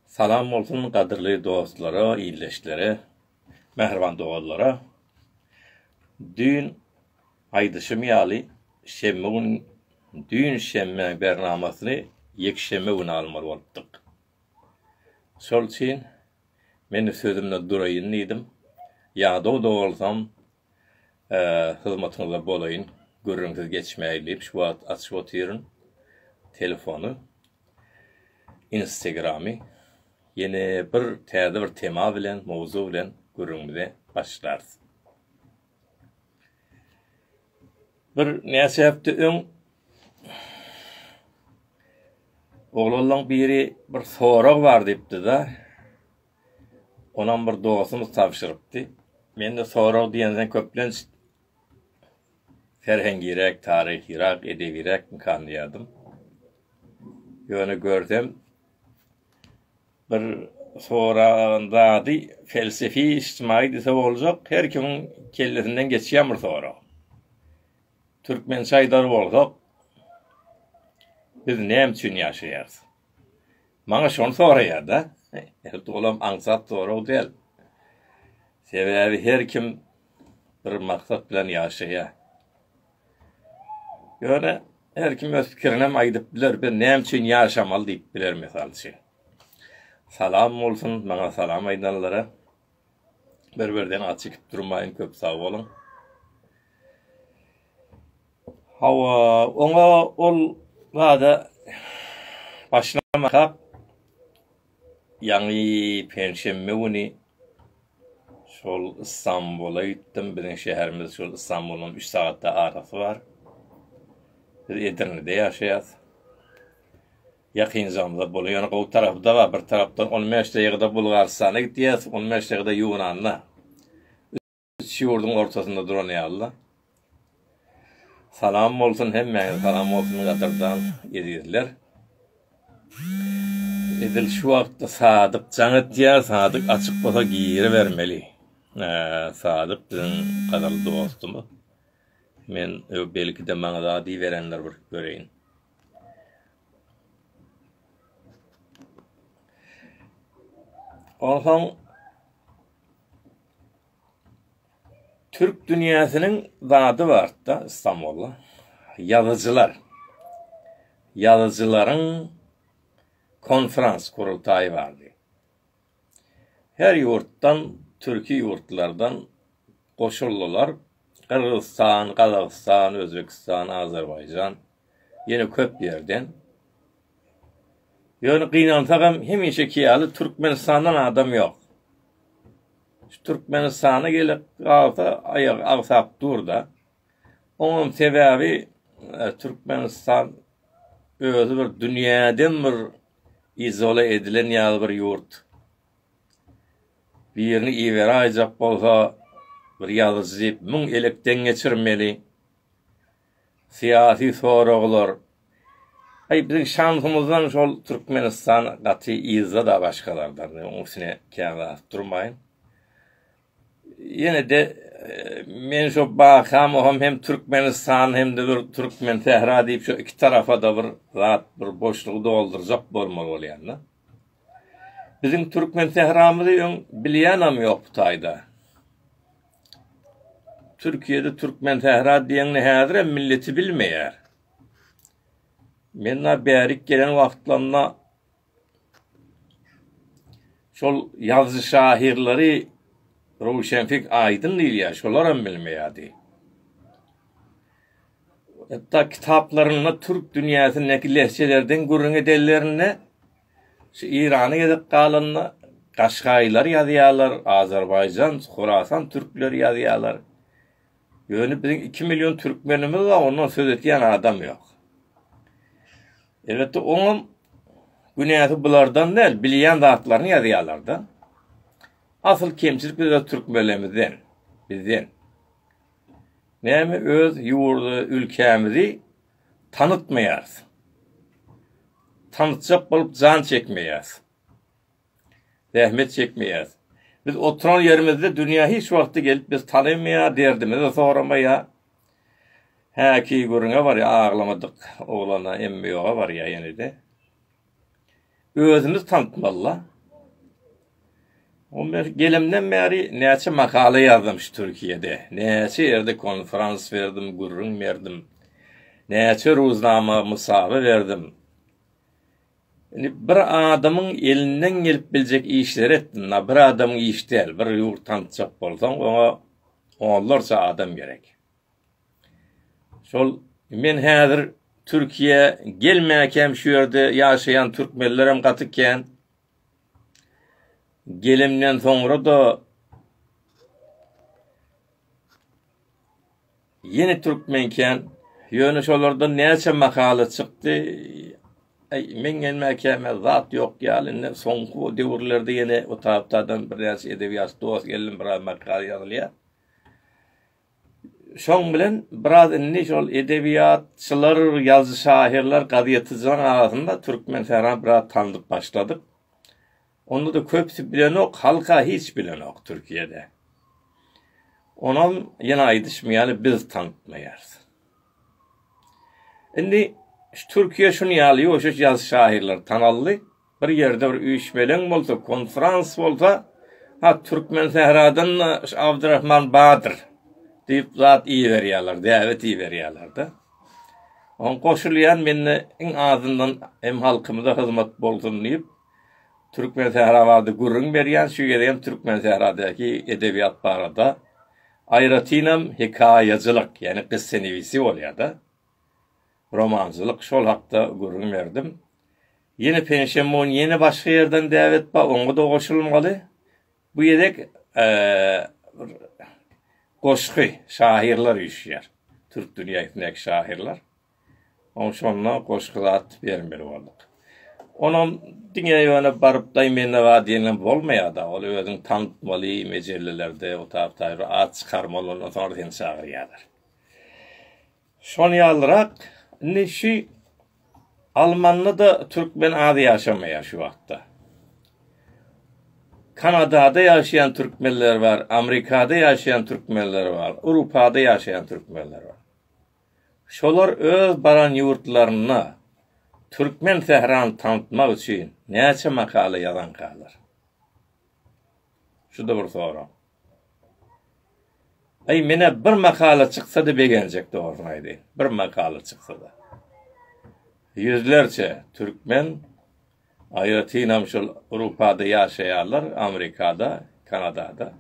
Salam bolsun gadyrly dostlara, ildeşlere, mähriban doganlara! Düýn aýdyşym ýaly, şenbe gün düýn şenbe bernamasyny ýekşenbe güni almaly bolupdyk. Şol üçin men sözümde duraýyn diýdim. Ýadaw-da bolsam, hyzmatyňyzda bolaýyn, gürrüňsiz geçmäýin diýip şu wagt açyp otyryn telefony, Instagramy. Ýene bir täze bir tema bilen, mowzuk bilen gürrüňimize başlarys. Bir näçe hepde öň oglanlaň biri bir sorag bar diýipdi-de. Onam bir dostumyz tabşyrypdy. Mende sorag diýensoň köplenç serhengiräk, taryhyrak, edebiräkmikan diýerdim. Ýöne görsem bir soragan zady pelsefi, ijtimai diýse boljak, her kimiň kellesinden geçýän bir sorag. Türkmençe aýdar bolsak, biz näme üçin ýaşaýarys? Maňa şony soraýar-da. Elbetde olam aňsat sorag däl. Sebäbi her kim bir maksat bilen ýaşaýar. Ýöne her kim öz pikirinem aýdyp biler. Biz näme üçin ýaşamaly diýip biler mysal üçin. Salam bolsun maňa salam aýdanlara. Bir birden aç ikip durmaýyn köp sag boluň. Hawa, oňa ol zada başlamakak ýaňy penşenbe güni şol Istanbula gitdim. Biziň şäherimiz şol Istanbuldan 3 sagatda arasy bar. Biz Edirnede ýaşaýas. Ýakynjamyzda boly ýöne gowy tarapyda bar bir tarapdan on bäş daýgada bulgarystana gitýäs on bäş daýgada ýunanda üç ýurduň ortasynda duran ýalyda salam bolsun hemmäňize salam bolsun gadyrdan ezizler edil şu wagtda sadyk jaň etýär sadyk açyk bolsa giribermeli sadyk biziň gadyrly dostumyz men belki de maňa zady berendir bir göreýin. Onsoň Türk dünýäsiniň zady barda Istanbulda ýazyjylar. Ýazyjylaryň konferans gurultaýy bardy. Her ýurtdan, türki ýurtlardan goşuldylar. Gyrgyzystan, Gazagystan, Özbegistan, Azerbaýjan, ýene köp ýerden. Ýöne gynansak hem hemişeki ýaly Türkmenistandan adam ýok. Şu Türkmenistana gelip galsa aýagy agsap dur-da. Onuň sebäbi Türkmenistan özi bir dünýäden bir izole edilen ýaly bir ýurt. Birini iberaýjak bolsa bir ýazyjy diýip müň elekden geçirmeli. Syýasy soraglar. Aý biziň şansymyzdan şol Türkmenistan gaty yzda-da başgalardan. Onuň üstüne kän zat durmaýyn. Ýene-de men şo Bakamowam hem Türkmenistan hem-de bir Türkmensähra diýip şo iki tarapa-da bir zat, bir boşlugy doldurjak bolmaly bolýan-da. Biziň Türkmensähramyzy öň bilýänem ýok bu taýda. Türkiýede Türkmensähra diýeňini häzirem milleti bilmeýär. Men-ä bärik gelen wagtlarymda Şol ýazyjy şahyrlary Röwşenfik Aýdyn diýilýär, şolaram bilmeýärdi. Hatda kitaplarynda türk dünýäsindäki lehjelerden gürrüň edenlerinde şu Eýrana gezek galanda Gaşgaýlar ýazýarlar, Azerbaýjan, Horasan türkleri ýazýarlar. Ýöne biziň iki million türkmenimiz bar, ondan söz etýän adam ýok. Elbetde oňam günäsi bulardan däl, bilýän zatlaryny ýazýarlar-da. Asyl kemçilik biz öz türkmenlerimizden, bizden. Näme öz ýurdy, ülkämizi tanıtmaýarys. Tanıtjak bolup jan çekmeýäs. Zähmet çekmeýäs. Biz oturan ýerimizde dünýä hiç wagty gelip bizi tanaýmaýar, derdimizi soramaýar. Häki gürrüňe barýar, aglamadyk oglana, emmi ýoga barýar ýene-de. Özümiz tanatmaly-la. Ol men gelemden bäri näçe makala ýazdym şu Türkiýede, näçe ýerde konferans berdim, gürrüň berdim, näçe ruznama, mysawa berdim. Indi bir adamyň elinden gelip biljek işleri etdim. Na bir adamyň iş däl. Bir ýurt tanşjak bolsaň, oňa onlarça adam gerek. Şol men häzir Türkiýä gelmäkäm şu ýerde ýaşaýan türkmenlerem gaty kän. Gelimden soňra da Ýene Türkmenken, ýöne şolardan näçe makala çykdy, aý, meň gelmäkäme zat ýok ýaly, indi soňky bu döwürlerde ýene o tapdadan birnäçe edebiýatçy dost geldim, biraz makala ýazylýar. Şoň bilen biraz indi şol edebiýatçylar, ýazyjy-şahyrlar, gazetçileriň arasynda Türkmensähra biraz tanylyp başladyk. Onda-da köpsi bilenok, halk-a hiç bilenok Türkiýede. Onam ýene aýdyşym ýaly biz tanatmaýarys. Indi şu Türkiýe şuny ýaly ýuwaş-ýuwaş ýaş şahyrlar tanaldy. Bir ýerde bir üýşmeleň bolsa, konfrans bolsa, ha Türkmen sähradan-da şu Abdyrahman bardyr diýip zat iberýärler, däwet iberýärler-de. Oň goşulýan mende iň azyndan hem halkymyza hyzmat bolsun diýip. Türkmensähra barada gürrüň berýän, şu gezegem Türkmensähradaky edebiýat barada, aýratynam hekaýaçylyk, ýagny gyssanewisi bolýar-da, romançylyk, şol hakda gürrüň berdim. Ýene penşenbe gün ýene başga ýerden däwet bar, oňa-da goşulmaly. Bu gezek goşgy, şahyrlar üýşýär, türk dünýäsindäki şahyrlar. Oň şonda goşgy zat bermeli bolduk. Onam diňe ýöne baryp daý mende bar diýenem bolmaýada. Ol özüň tandytmaly mejellelerde o tap taý bir at çykarmaly ondan soňra seni çagyrýarlar. Şon ýalyrak indi şi Almanda da türkmen az ýaşamaýar şu wagtda. Kanadada ýaşaýan türkmenler bar, Amrikada ýaşaýan türkmenler bar, Urupada ýaşaýan türkmenler bar. Şolar öz baran ýurtlarynda türkmen sährany tanatmak üçin näçe makala ýazankalar? Şu-da bir sorag. Aý, menä bir makala çyksa-da begenjek, dogrusyny aýdaýyn. Bir makala çyksa-da. Ýüzlerçe türkmen Aýratynam şol Rupada ýaşaýarlar, Amerikada, Kanadada.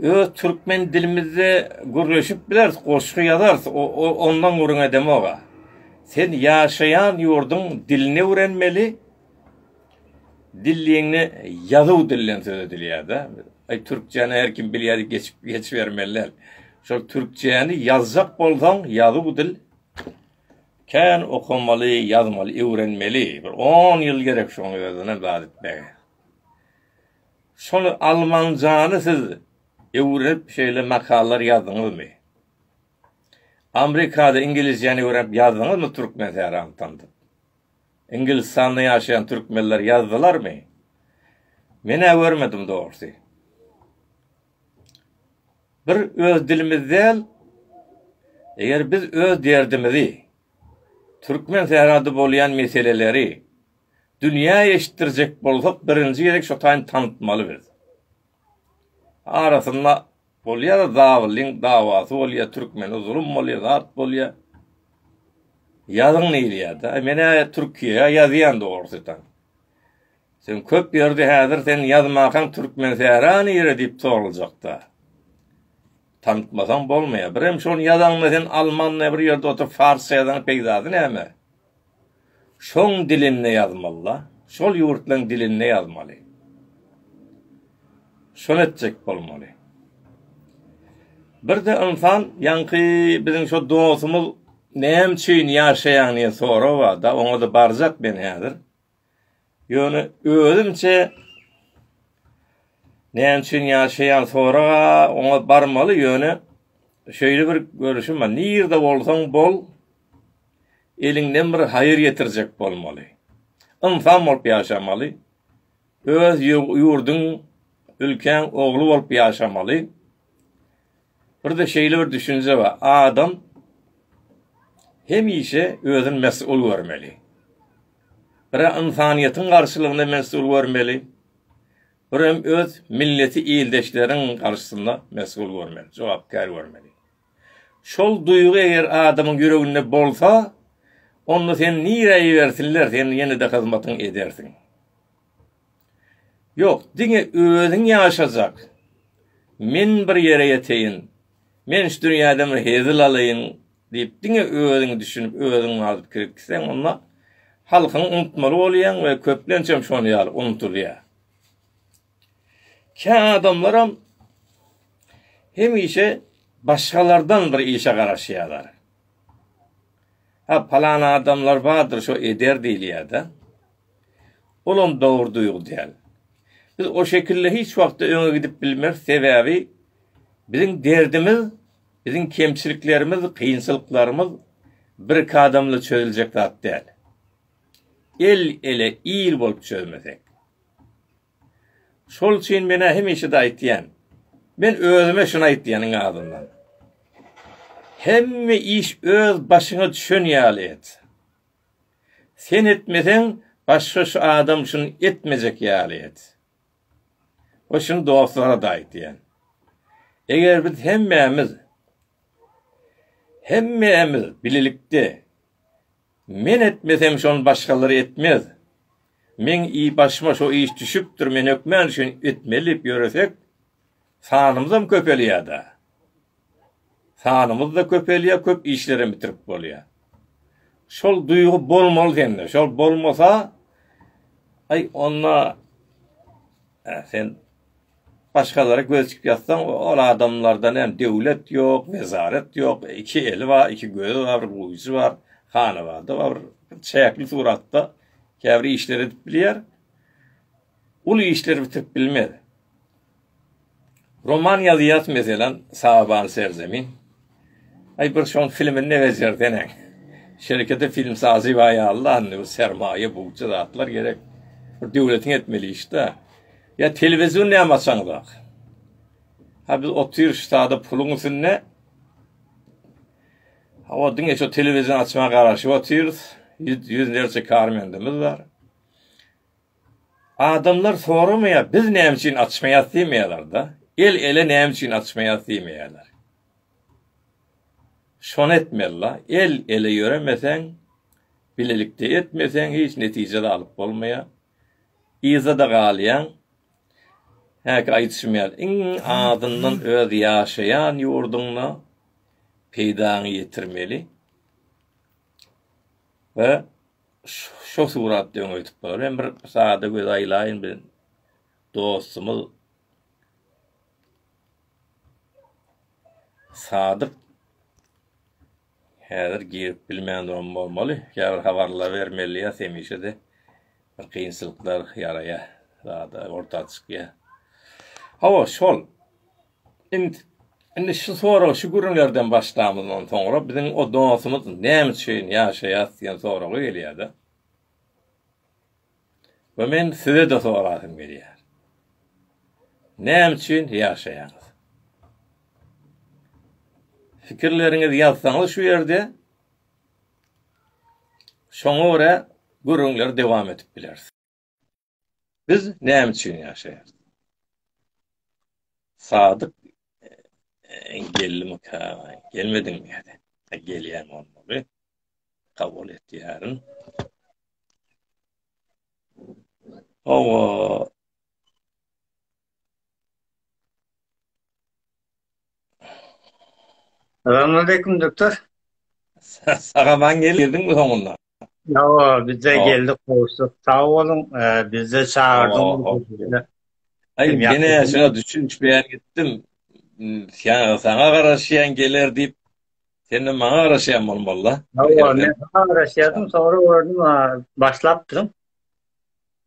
Öz türkmen dilimizde gürleşip bileris, goşgy ýazarys, ondan gürrüň edemog-a. Sen ýaşaýan ýurduň dilini öwrenmeli, dilligiňde ýazuw dilden söz edilýär-dä. Aý, türkçäni her kim bilýär diýip geçip geçibermeli däl. Şol türkçäni ýazjak bolsaň, ýazuw dil. Kän okamaly ýazmaly öwrenmeli bir on ýyl gerek şoňa özüne zat etmege. Şony almanjany siz öwrenip şeýle makalar ýazdyňyzmy? Amrikada iňgilizjäni öwrenip ýazdyňyzmy türkmen sähram tandyp? Iňgilistanda ýaşaýan türkmenler ýazdylarmy? Menä görmedim dogrsy. Bir öz dilimiz däl, eger biz öz derdimizi, türkmen serhady bolýan meseleleri dünýä eşitdirjek bolsak birinji gezek şo taýyny tanatmaly biz. Arasynda bolýar zabylyň dawasy bolýar türkmene zulum bolýar zat bolýar. Ýazyň diýilýär-de. Menä türkiýä ýazýan dogrusydan. Sen köp ýerde häzir sen ýazmakaň türkmen sära nire diýip soraljakda. Tanitmasaň bolmaýa. Birem şony ýazaňda sen almanda bir ýerde oturyp farsça ýazaň peýdasy näme? Şoň dilinde ýazmalyda. Şol ýurtlaň dilinde ýazmaly. Şony etjek bolmaly. Birde ynsan ýaňky biziň şo dostumyz näme üçin ýaşaýaň diýen sorag barda oňada barjak men häzir. Ýöne özümçe näme üçin ýaşaýan soraga oňa barmaly ýöne şeýle bir görüşim bar nirde bolsaň bol eliňden bir haýyr getirjek bolmaly ynsan bolup ýaşamaly öz ýurduň ülkäň ogly bolup ýaşamaly Birde şeýle bir düşünje bar, adam hemişe özüni mesgul görmeli. Bire ynsanyýetiň garşylygynda mesgul görmeli, birem öz milleti ildeşleriň garşysynda mesgul görmeli, jogapkär görmeli. Şol duýgy eger adamyň ýüreginde bolsa, onda seni nirä ibersinler, sen ýene-de hyzmatyňy edersiň. Ýok, diňe özüň ýaşajak. Men bir ýere ýeteýin, men şu dünýäden bir hezil alaýyn diýip, diňe özüňi düşünip, özüň mazyp kirip gitseň, onda halkyňy unutmaly bolýaň we köplençem şonuň ýaly unudylýar. Kä adamlaram hemişe başgalardan bir işe garaşýarlar. Ha, palan adamlar bardyr, şo eder diýilýär-de. Olam dogry duýgy däl. Biz o şekilde hiç wagtda öňe gidip bilmeris, sebäbi biziň derdimiz, biziň kemçiliklerimiz, kynçylyklarymyz birki adamla çözüljek zat däl. El-ele, il bolup çözmesek. Şol üçin men-ä hemişe-de aýtýan. Men özüme şuny aýtýan iň azyndan. Hemme iş öz başyňa düşen ýaly et. Sen etmeseň başga şu adam şuny etmejek ýaly et. We şuny dostlara-da aýt diýen. Eger biz hemmämiz hemmämiz bilelikde Men etmesem şony başgalary etmez. Meň i başyma şo iş düşüpdir men hökmän şuny etmeli diýip ýöresek, Sanymyzam köpelýär-dä. Sanymyz-da köpelýär, köp işlerem bitirip bolýar. Şol duýgy bolmaly sende. Şol bolmasa, aý, onda sen başgalara göz çykyp ýatsaň, ol adamlardan hem döwlet ýok, wezaret ýok, iki eli bar, iki gözi bar, bir gujy bar, hanabady bar, çäkli suratda käbir işleri edip bilýär. Uly işler bitirip bilmez. Roman ýazýas meselem Saban serzemin. Aý bir şoň filmini de bejerseneň. Şerekete film sazy baý Allah indi bu sermaýa bugja zatlar gerek. Bir döwletiň etmeli işde. Ýa telewizion näme açaňyzak. Ha biz otyr şu sada puluň üstünde. Hawa diňe şu telewizion açma garaşyp otyrys. Ýüz ýüzlerçe karmendimiz bar. Adamlar soramaýar, biz näme üçin açmaýas diýmeýärler-de, el ele näme üçin açmaýas diýmeýärler. Şony etmeli-la, el ele ýöremeseň, bilelikde etmeseň hiç netije-de alyp bolmaýar. Yzda-da galýaň. Häki aýdyşym ýaly, iň azyndan öz ýaşaýan ýurduňda peýdaňy ýetirmeli we Şo suratda öň öýtüp bararem bir sada göz aýlaýyn bir dostumyz Sadyk häzir girip bilmän duran bolmaly. Ýa habarlar bermeli ýa hemişe de bir kynçylyklar ýaraýa. Sada orta çykýa. Hawa, şol. Int indi şu sorag şu gürrüňlerden başlamyzdan soňra biziň o dostumyz näme üçin ýaşaýas diýen soragy gelýärde. We men size-de sorasym gelýär. Näme üçin ýaşaýaňyz? Fikirleriňizi ýazsaňyz şu ýerde şoňa görä gürrüňleri dowam edip bileris. Biz näme üçin ýaşaýarys? Sadyk e, geldim ka, gelmedim ýa-da e, gelýän bolmaly. Kabul etýärin. Owa. Salam aleyküm doktor. Sagaman geldiň mi soňunda? Ýawa, bizde geldik gowşuk. Sag boluň, bizde çagyrdyň. Aý, meni şuna düşünişmeýän gitdim. Ýa saňa garaşýan geler diýip, sen maňa garaşýan bolmaly-da. Ýa, men saňa garaşýardym, soňra gördüm, başlapdyň.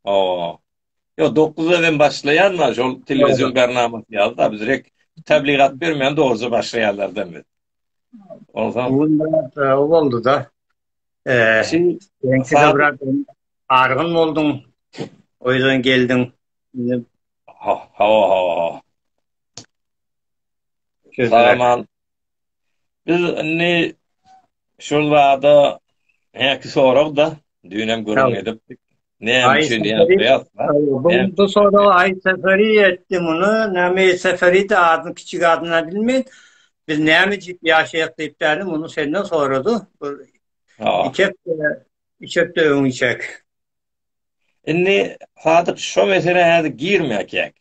Hawa. Ýok, dokuzda hem başlaýan bar, şol telewizion bernamasy ýaly-da, biz rek tebligat bermeýän dogruja başlaýanlardan biz. Onsoň... O boldy-da. Argyn bolduň, o ýerden geldiň. Hawa, hawa, hawa. Salam, Biz indi şol zada häki sorag-da, düýnem gürrüň edipdik. Näme üçin ýaşaýas? Bu soragy Aý Seferi etdi muny. Näme Aý Seferi-de adyny kiçi adyndan bilmeýin. Biz näme diýip ýaşaýas diýip däl, muny senden sorady. Bir iki hepde, üç hepde öň içerk. Indi Sadyk şo meselä häzir girmäýek.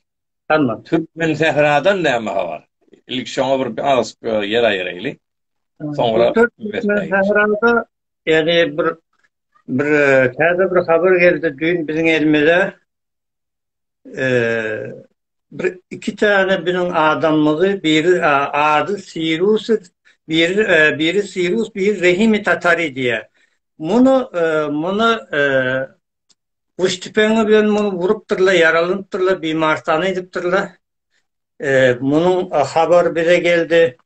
Hanna. Türkmensähradan näme habar? Ilki şoňa bir az ýer aýyraýly. Soňra Türkmensährada ýeri bir bir täze bir habar geldi düýn biziň elimize. Eee bir iki tane biziň adamymyzy biri adı Sirus bir e, biri Sirus bir Rehimi Tatari diye. Bunu e, bunu e, Guş tüpeňi bilen muny urupdyrlar, ýaralanypdyrlar, bimarystana edipdirler. Munuň habary bize geldi.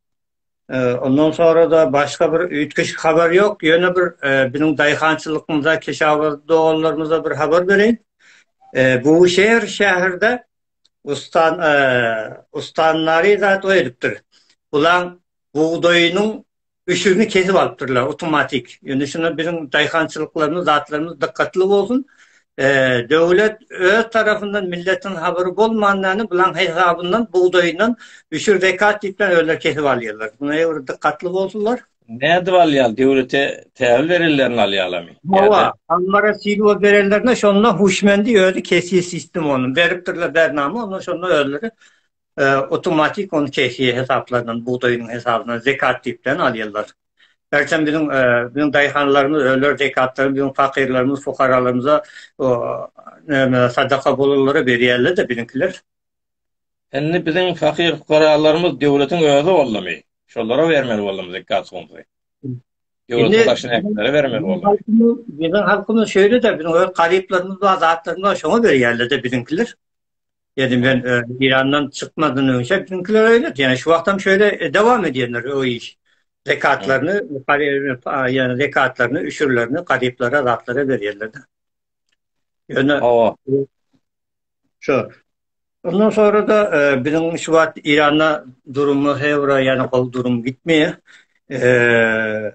Ondan sonra-da başga bir üýtgeşik habar ýok. Ýöne bir biziň daýhançylygymyza, keşawarz doganlarymyza bir habar bereýin. Buşeýr şäherde ustan ustanlary zat oýadypdyr. Bulaň bugdaýynyň Öşügini kesip alypdyrlar otomatik. Indi şuna biziň daýhançylyklarymyz, zatlarymyz dykgatly bolsun. Döwlet öz tarapyndan milletiň habary bolmandany bulaň hesabyndan bugdaýyndan öşür zekat diýipden özleri kesip alýarlar. Buna ýa-da dykgatly bolsunlar. Nädip alýar? Döwlete tähül berenlerini alýarlarmy? Hawa, ammara silwa berenlerine şonda huşmendi özi kesýär sistem ony. Beripdirler bernama, onda şonda özleri Awtomatik ony keýfiýe hesaplanan bugdaýynyň hesabyna zekat diýip bilen alýarlar. Ertem biziň biziň daýhanlarymyz öler zekatlaryny biziň fakyrlarymyz fukaralarymyza näme sadaka bolanlara berýärler-de biziňkiler. Indi biziň fakyr fukaralarymyz döwletiň özi boldumy? Şolara bermeli boldumy zekat humumy? Döwletiň başyny äkenlere bermeli boldumy? Biziň halkymyz şeýle-de biziň öz garyplarymyz bar zatlarymyz bar şoňa berýärler-de biziňkiler. Dedim men Eýrandan çykmadan öňçe bizimkiler öýlet. Ýöne şu wagtam şöýle dowam edýänler o iş. Zekatlaryny, ýöne zekatlaryny, üşürlerini garyplara, zatlara berýärler. Ýöne hawa. Şu. Ondan sonra da biziň şu wagt Eýranda durumymyz hewra, ýöne gowy durum gitmeýär. Eee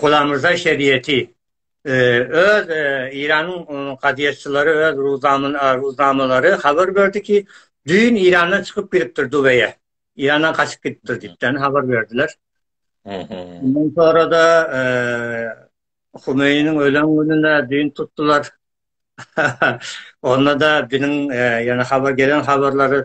Gulamrza şeriýeti öz Eýranyň kazyýetçileri öz ruznamalary habar berdi ki, düýn Eýrandan çykyp gidipdir Dubeýe. Eýrandan gaçyp gidipdir diýipden habar berdiler. Ondan sonra-da Humeýiniň ölen gününe düýn tutdular. Onda-da biniň ýöne habar gelen habarlary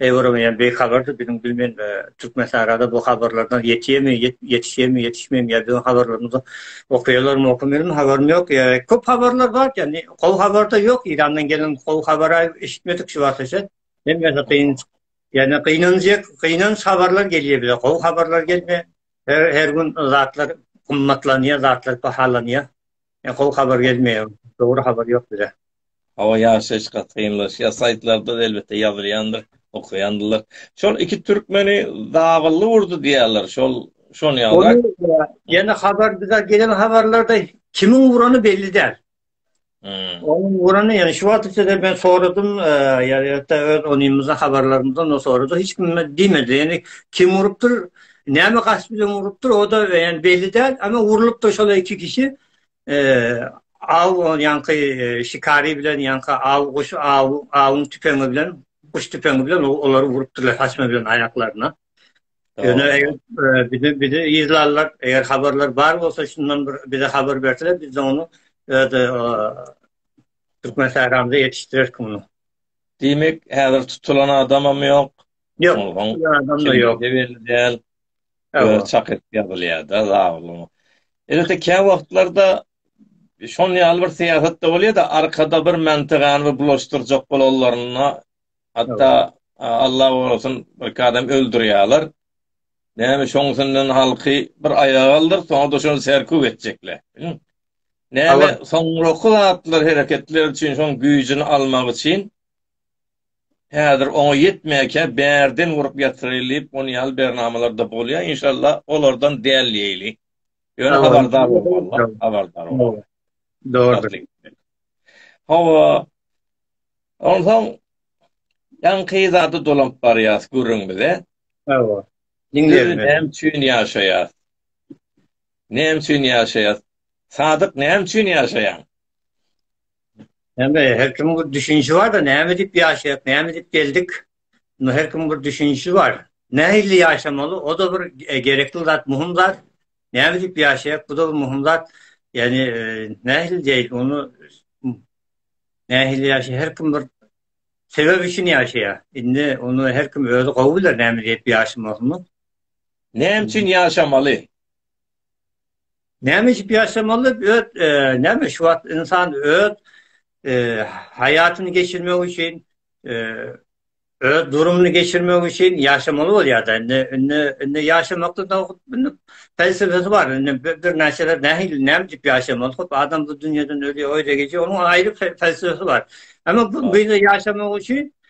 Eýwarameýän beýik habardyr biziň bilmen we Türkmensahrada bu habarlardan ýetýemi ýetişýemi ýetişmem ýa biziň habarlarymyzy okaýalarmy okamaýalarmy habarym ýok ýa köp habarlar bar ýagny gowy habarda ýok Eýrandan gelen gowy habara eşitmedik şu wagta çen hemmesi gyn ýagny gynanjak gynanç habarlar gelýär bize gowy habarlar gelmeýär her gün zatlar gymmatlanýar zatlar bahalanýar. Ýa gowy habar gelmeýär, dogry habar ýok bize. Hawa ýaşaýyş gaty kynlaşýar. Saýtlarda elbetde ýazylýandyr, okaýandyrlar. Şol iki türkmeni dabylly urdy diýýärler. Şol şony ýa-da. Ýene habar bize gelen habarlarda kimiň urany belli däl. Onuň urany ýa şu wagta çenli men soradym, ýa-da öz onymyzdan habarlarymyzdan soradym. Hiç kim diýmedi. Ýani kim urupdyr? Näme gaç bilen urupdyr, o da yani belli däl, ama urulupdyr şol iki kişi. Eee, aw on yanki e, şikari bilen yanki aw guş aw awun tüpeňi bilen guş tüpeňi bilen olary urupdyrlar saçma bilen ayaklaryna. Yani eger e, bizi bizi izlarlar, eger haberler bar olsa şundan bir bize haber berseler biz de onu öde e, Türkmen Sahramda yetiştirir bunu. Diýmek, häzir tutulan adamam ýok. Yok. Adamda yok. Belli Çak et yazılýar da zalim. Elbetde kä wagtlarda şon ýaly bir syýasat da bolýar da arkada bir mentegany bir bulaşdyrjak bolanlaryna hatta Allah gorasyn bir adam öldürýärler. Näme şoň üçinden halky bir aýaga aldyr, soňra da şony serkuw etjekler. Näme soňraky zatlar hereketler üçin şoň güýjüni almak üçin Häzir oňa ýetmäkä bärden urup ýatyraýyl diýip ony ýaly bernamalarda bolýa inşallah olardan däl diýeýli. Ýöne habardar bolmalylar habardar bolmaly. Dogrudyr. Hawa onsoň ýaňky zada dolanyp barýas gürrüň bize. Hawa. Diňleýin näme üçin ýaşaýas? Näme üçin ýaşaýas? Sadyk näme üçin ýaşaýaň? Näme, her kimiň bir düşünişi bar-da, näme edip ýaşaýak, näme edip geldik? Indi her kimiň bir düşünişi bar. Nähili ýaşamaly, o-da bir e, gerekli zat, muhim zat. Näme edip ýaşaýak, bu-da bir muhim zat. Ýani, e, nähili diýil, onu nähili ýaşa, her kim bir sebep üçin ýaşaýar. Indi onu her kim özi gowy biler, näme diýip ýaşamalyny. Näme üçin ýaşamaly? Näme içip ýaşamaly? Öz e, näme şu wagt insan öz e, haýatyny geçirmek üçin e, öz durumyny geçirmek üçin ýaşamaly bolýar-da. Indi indi indi ýaşamakda da indi felsefesi bar. Indi bir näçeler nähili näme diýip ýaşamaly? Hop adam bu dünýäden ölýär, öýde geçýär. Onuň aýry felsefesi bar. Emma bu bize ýaşamak üçin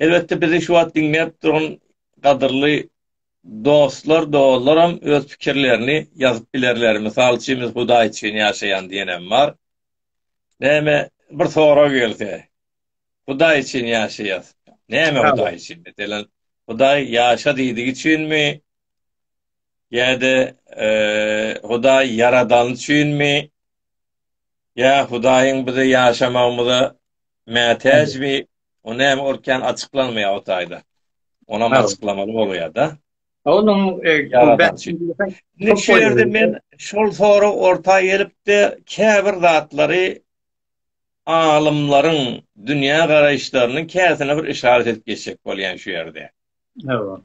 Elbetde bizi şu wagt diňläp duran gadyrly dostlar, dollaram öz pikirlerini ýazyp bilerler. Mysal üçin biz Hudaý üçin ýaşaýan diýenem bar. Näme bir sorag gelse, Hudaý üçin ýaşaýas. Näme Hudaý üçin? Meselem, Hudaý ýaşa diýdigi üçinmi? Ýa-da Hudaý ýaradan üçinmi? Ýa Hudaýyň bize ýaşamagymyza mätäjmi? O näme ol kän açyklanmaýar o taýda. Onam açyklamaly bolýar-da. Onuň şu ýerde men şol sorag orta gelipdi, käbir zatlary alymlaryň dünýä garaýyşlarynyň käsine bir yşarat edip geçjek bolýan şu ýerde. Hawa.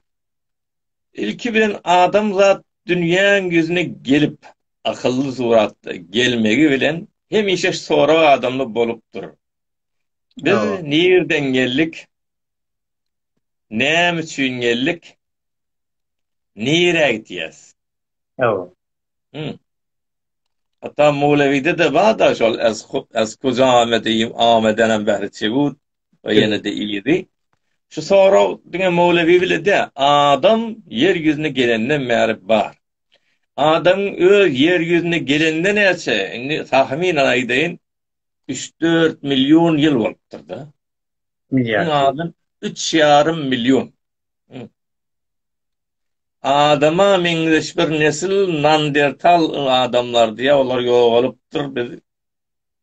Ilki bilen adamzat dünýäň ýüzüne gelip, akylly suratda gelmegi bilen hemişe sorag adamda bolupdyr. Biz nirden geldik? Näme üçin geldik? Nirä gitýäs? Hawa. Hum. Hatta Mowlewide de bada şol ez ez kujame diýip amedenem bäri çegut we ýene de ýedi. Şu sorag diňe Mowlewi bile de adam ýer ýüzüne gelenden bäri bar. Adam öz ýer ýüzüne gelende näçe? Indi tahminen aýdaýyn Üç-dört million ýyl bolupdyr-da. Milliard. Iň azam üç ýarym million. Adama meňzeş bir nesil nandertal adamlardy. Ýa olar ýogalypdyr, biz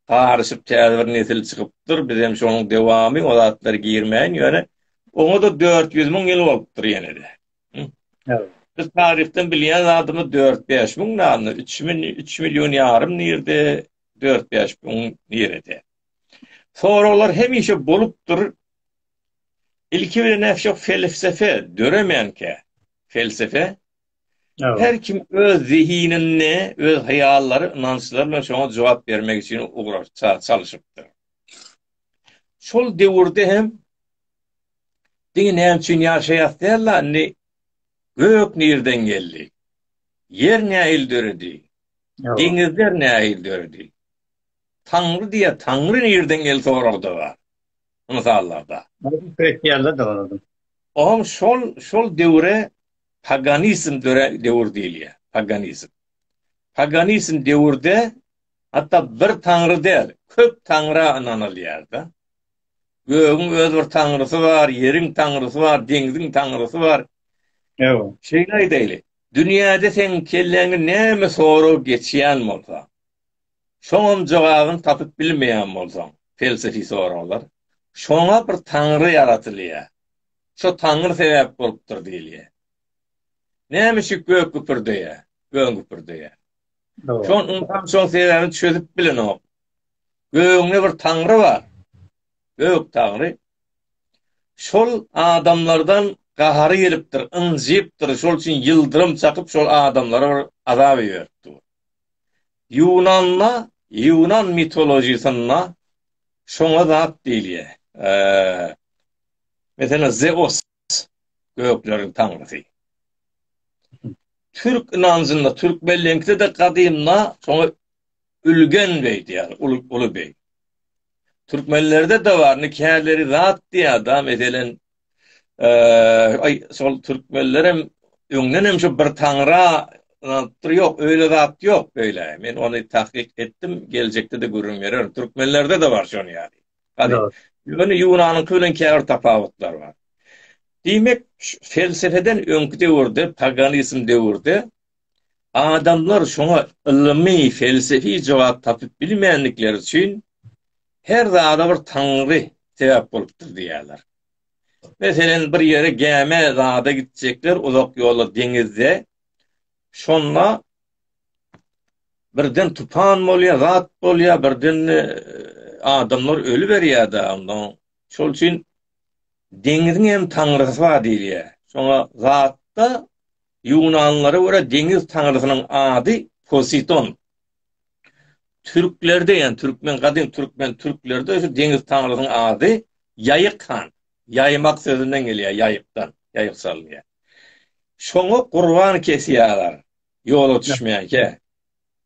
garyşyp täze bir nesil çykypdyr, bizem şonuň dowamy, o zatlara girmäýin, ýöne oňa-da dört ýüz müň ýyl bolupdyr ýene-de. Ýa. Biz taryhdan bilýän zadymyz dört-bäş müň nanny, üç müň, üç million ýarym nirde, Dört-bäş gün nirede? Soraglar hemişe bolupdyr. Ilki bilen näme şok felsefe döremänkä? Felsefe? Ýa. Her kim öz zehinini, öz haýallary, ynançlary bilen şoňa jogap bermek üçin ugrarça çalyşypdyr. Şol döwürde hem Diňe näme üçin ýaşaýas däl indi gök nireden geldi? Ýer nähili döredi? Deňizler nähili döredi? Taňry diýýär, Taňry nirden geldi soragda-da, mysallarda. Oňa şol, şol döwre paganizm dörän döwür diýilýär, paganizm. Paganizm döwürde hatda bir Taňry däl, köp Taňra ynanylýar-da. Gögüň öz bir Taňrysy bar, ýeriň Taňrysy bar, deňziň Taňrysy bar. Ýa-a. Şeýle aýdaýly, Dünýäde seň kelläňi näme sorag geçýän bolsa, şoňam jogabyny tapyp bilmeýän bolsaň, pelsefi soraglar, şoňa bir taňry ýaratylýar, şo taňry sebäp bolupdyr diýilýär. Näme üçin gök güpürdeýär? Göň güpürdeýär. Şoň ynsan şoň sebäbini çözüp bilenok. Gögüňde bir taňry bar. Göktaňry şol adamlardan gahary gelipdir, ynjypdyr, şol üçin ýyldyrym çakyp şol adamlara bir azap iberipdir. Ýunanda, ýunan mitolojisynda şoňa zat diýilýär. Meselem Zeos. gökleriň taňrysy. Türk ynanjynda, türkmenleňkide-de gadymda şoňa Ülgen beý diýýär, uly, uly beý. Türkmenlerde-de bar, indi käleri zat diýýär da, meselen, eee, şol türkmenler hem öňden hem şu bir taňra ynanypdyr, ýok, öýle zat ýok, beýle. Men ony tahkyk etdim, geljekde-de gürrüň bererin. Türkmenlerde-de bar şonuň ýaly. Ýöne Ýunanyňky bilen käbir tapawutlar bar. Diýmek, felsepeden öňki döwürde, paganizm döwürde adamlar şoňa ylmy, felsefi jogap tapyp bilmändikleri üçin her zada bir taňry sebäp bolupdyr diýýärler. Meselem, bir ýere gämä zada gitjekler, uzak ýola deňizde. Şonda birden tupan bolýar, zat bolýar, birden e, adamlar öli berýär-de, ondan şol üçin deňiziň hem taňrysy bar diýilýär. Şoňa zatda ýunanlara görä deňiz taňrysynyň ady Poseidon. Türklerde, ýa türkmen gadym türkmen türklerde şu deňiz taňrysynyň ady Ýaýyk han. Ýaýmak sözünden gelýär, ýaýykdan, ýaýyk salynýar. Şoňa gurban kesýärler. Ýola düşmänkä.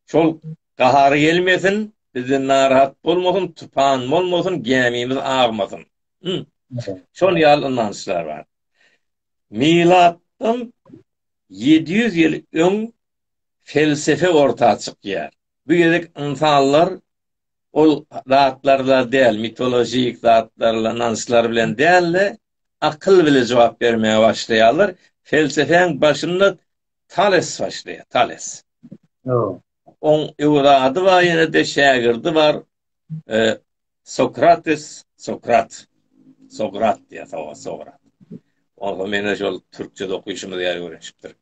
Şol gahary gelmesin, bizden narahat bolmasyn, tupan bolmasyn, gämimiz agmasyn. Hum. Şol ýaly ynançlar bar. Milatdan ýedi ýüz ýyl öň felsefe orta çykýar. Bu gezek ynsanlar ol zatlarla däl, mitolojik zatlarla, ynançlar bilen däl-de, akyl bilen jogap bermäge başlaýarlar. Felsefäň başynda Tales başlaýar, Tales. Ýoo. Oň öwlady bar ýene-de şägirdi bar. E, Sokrates, Sokrat. Sokrat diýýär, Sokrat, Sokrat. Oňa meni şol türkçe okyşymyz ýaly öwrenişipdir.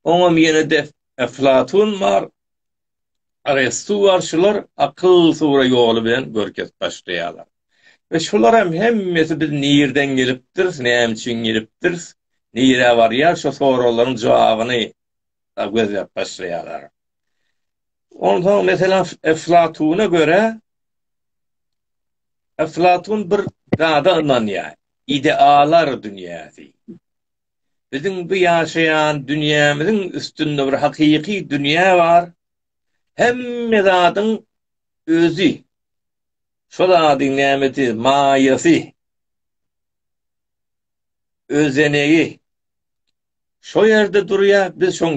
Oňam ýene-de Eflatun bar. Arestuwarçylar akyl sura ýoly bilen görkezip başlaýarlar. We şularam hemmesi biz nirden gelipdiris, näme üçin gelipdiris, nirä barýar şu soraglaryň jogabyny gözläp başlaýarlar. Onsoň meselem Eflatuna görä Eflatun bir zada ynanýar. Idealar dünýäsi. Biziň bu ýaşaýan dünýämiziň üstünde bir hakyky dünýä bar. Hemme zadyň özi, şol zadyň nämesi, maýasy, özenegi şo ýerde durýar, biz şoň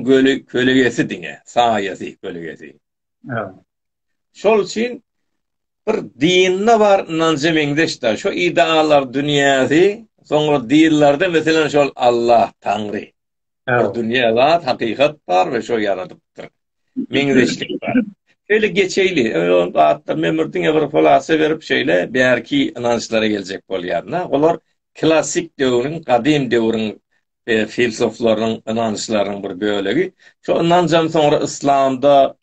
kölegesi diňe, saýasy, kölegesi. Şol üçin bir dinde bar ynanja meňzeş-de, şu ideallar dünýäsi, soňra dinlerde, meselem, şol Allah, Taňry, bir dünýä zat, hakykat bar we şo ýaradypdyr. Meňzeşlik bar. Şeýle geçeýli, ol zatlar men bir diňe bir hulasa berip şeýle bärki ynançlara geljek bolýan-da. Olar klassyk döwrüň, gadym döwrüň filsoflaryň, ynançlarynyň bir bölegi. Şo ynanjam soňra yslamda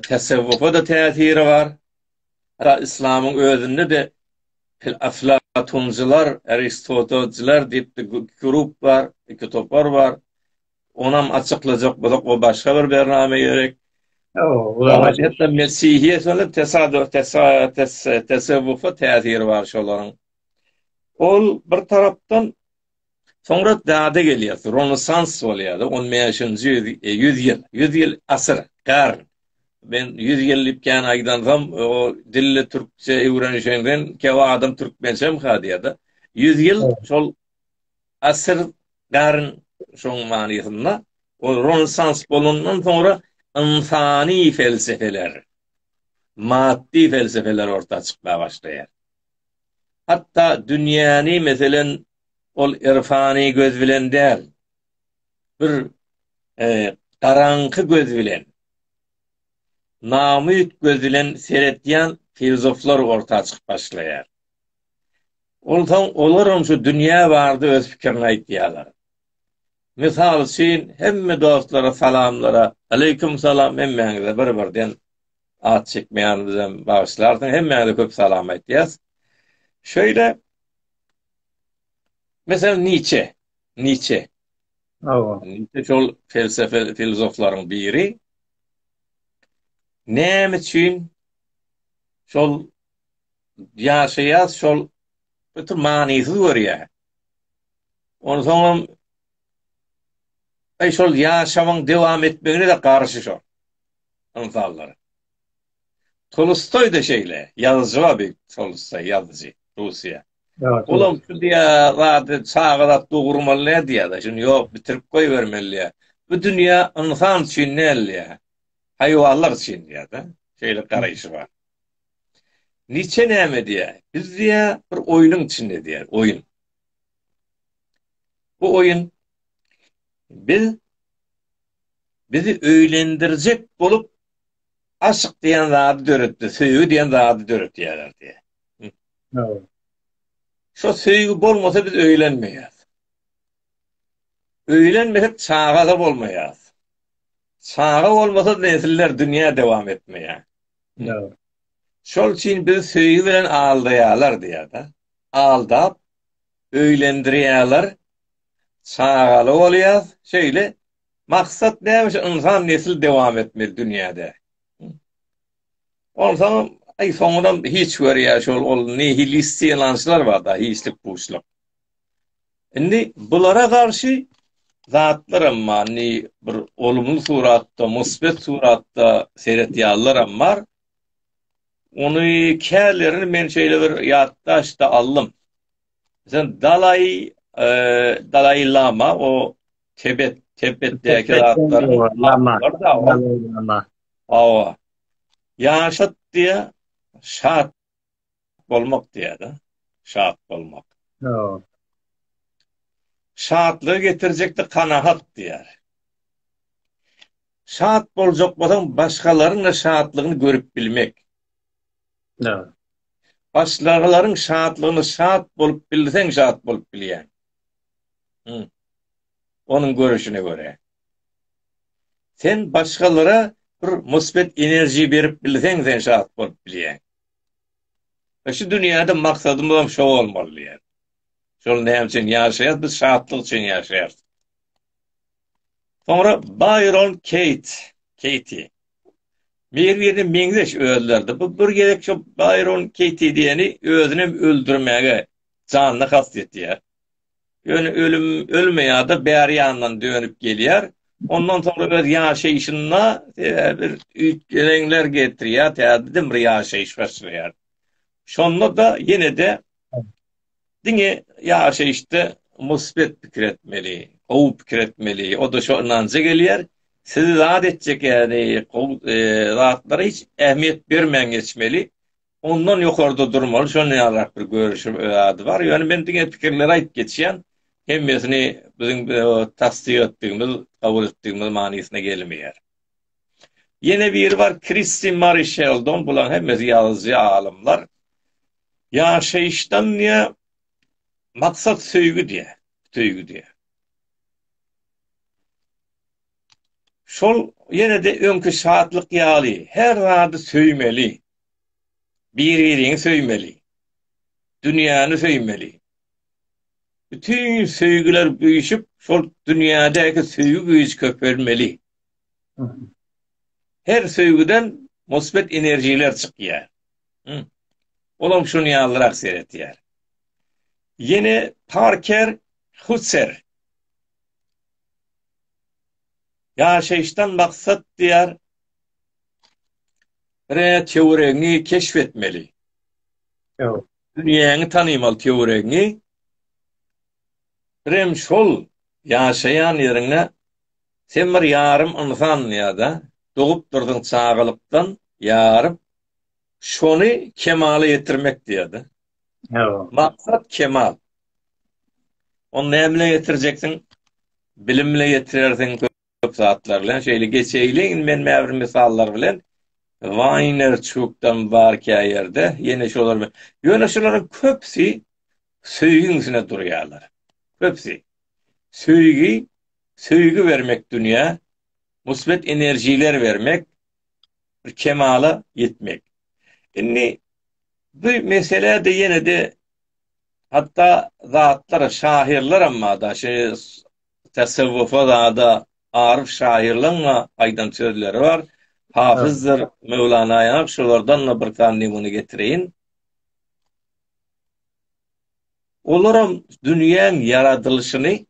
tesewwufa-da täsiri bar. Hatda yslamyň özünde-de aflatuncylar, aristotelciler diýip iki grup bar, iki topar bar. Onam açyklajak bolsak, o başga bir bername gerek. Hatda mesihiýetiň-de tesawwufa täsiri bar şolaryň. Ol bir tarapdan Soňra dada gelýär, Ronesans bolýar, on bäşinji ýüz ýyl, ýüz ýyl asyr, garn. Men ýüz ýyl diýip kän aýdansam, o dilli türkçe öwrenişenden käwagt adam türkmençem ha diýýär-de. Ýüz ýyl şol asyr, garn şoň manysynda. O Ronesans bolandan soňra ynsany pelsefeler, maddy pelsefeler orta çykmaga başlaýar. Hatda dünýäni, meselen, ol irfany göz bilen däl, bir garaňky göz bilen, namüýt göz bilen seretýän filozoflar orta çykyp başlaýar. Onsoň olaram şu dünýä barada öz pikirini aýtýarlar. Mysal üçin, hemme dostlara salamlara aleýkum salam, hemmäňize bir-birden at çekmeýän bizem bagyşlarsyň hemmäňize köp salam aýtýas. Şöyle mesela Nietzsche, Nietzsche. Awa. Nietzsche şol felsefe filozoflaryň biri. Näme üçin şol ýaşaýas şol öte manysyz görýär. Ondan soňam Ay şol ýaşamyň dowam etmegine de garşy şol. ynsanlar. Tolstoý-da şeýle, ýazyjy-a beýik Tolstoý, ýazyjy, Russiýa. Olam şu diýýä, zady çaga zat dogurmaly nädýä-da, şuny ýok, bitirip goýbermeli diýýä. Bu dünýä ynsan üçin däl diýýä, haýwanlar üçin diýýä-de, şeýle garaýşy bar. Niçe näme diýýä, biz diýýä, bir oýnuň içinde diýýä, oýun. Bu oýun, biz bizi öýlendirjek bolup aşyk diýen zady döretdi, söýgi diýen zady döretýärler diýýär. Ýa. Şo söýgi bolmasa biz öýlenmeýäs. Öýlenmesek çaga-da bolmaýas. Çaga bolmasa nesiller dünýä dowam etmeýär. Ýa. Şol üçin bizi söýgi bilen aldaýarlar diýýär-de. Aldap öýlendirýärler, çagaly bolýas, şeýle maksat näme üçin ynsan nesil dowam etmeli dünýäde? Onsoňam aý soňunam hiç görýär şol ol nihilisti ynançlar bar da hiçlik puşluk. Indi bulara garşy zatlaram bar, indi bir olumly suratda, musbet suratda seretýänleram bar. Ony kälerini men şeýle bir ýatdaşda aldym. Sen Dalai e, Dalai Lama o Tibet Tibetdäki zatlar Lama Lama. Awa. Ýaşat diýä şat bolmak diýýär-de, şat bolmak. Hawa. Şatlygy getirjekdi kanagat diýýär. Şat boljak bolsaň, başgalaryň-da şatlygyny görüp bilmek. Hawa. Başgalaryň şatlygyna şat bolup bilseň, şat bolup bilýäň. Hum. onuň görüşine görä. Sen başgalara bir musbet enerji berip bilseň sen şat bolup bilýäň. Ve şu dünýäde maksadymyz hem şo bolmaly diýýär. Şol näme üçin ýaşaýarys? Biz şatlyk üçin ýaşaýarys. Soňra Bayron Kate, Katie. Merwirine meňzeş özlerdi. Bu bir gezek şu Bayron Katie diýeni özüni hem öldürmäge janyna kast etýär. Ýöne ölüm ölmeýär-de, bäri ýandan dönüp gelýär. Ondan soňra öz ýaşaýşynda bir üýtgelenler getirýär, täzeden bir ýaşaýyş başlaýar. Şonda-da ýene-de diňe ýaşaýyşda musbet pikir etmeli, gowy pikir etmeli. O-da şo ynanja gelýär. Sizi zat etjek ýaly gowy zatlary hiç ähmiýet bermän geçmeli. Ondan ýokarda durmaly, şondan ýalyrak bir görüşiň öz ady bar. Ýöne men diňe pikirleri aýdyp geçýän. Hemmesini biziň tassyk etdigimiz, kabul etdigimiz manysyna gelmeýär. Ýene biri bar, Kristi Mari Şeldon, bulaň hemmesi ýazyjy alymlar. Ýaşaýyşdan diýä, maksat söýgi diýä, söýgi diýä. Şol ýene-de öňki şatlyk ýaly, her zady söýmeli, Bir-biriňi söýmeli. Dünýäni söýmeli. Bütin söýgüler güýşüp, şol dünýädäki söýgi güýji köpelmeli. Her söýgüden musbet energiýalar çykýar. Olam şuny ýalyrak seretýär. Ýene Parker Hutzer. Ýaşaýyşdan maksat diýär. Re töweregiňi keşf etmeli. Ýok. Dünýäňi tanymal töweregiňi. Birem şol ýaşaýan ýeriňe sen bir ýarym ynsan ýa-da dogup durdyň çagalykdan ýarym şony kemala ýetirmek diýýär-de. Ýok. Maksat kemal. Ony näme bilen ýetirjekdiň? Bilim bilen ýetirersiň. köp zatlar bilen şeýle geçeýliň men mäbir mysallar bilen Wayner çukdan bar käýerde ýene şolar bilen ýöne şolaryň köpsi söýgiň üstüne durýarlar köpsi söýgi söýgi bermek dünýä musbet enerjiler bermek bir kemala ýetmek indi bu mesele de ýene de hatda zatlar şahyrlar amma da şu Tasawwufada Aryf şaýyrlaryň-a aýdan sözleri bar. Hafyzdyr Möwlanaýam şolardan-da bir sany nemune getireýin. Olaram dünýäň ýaradylyşyny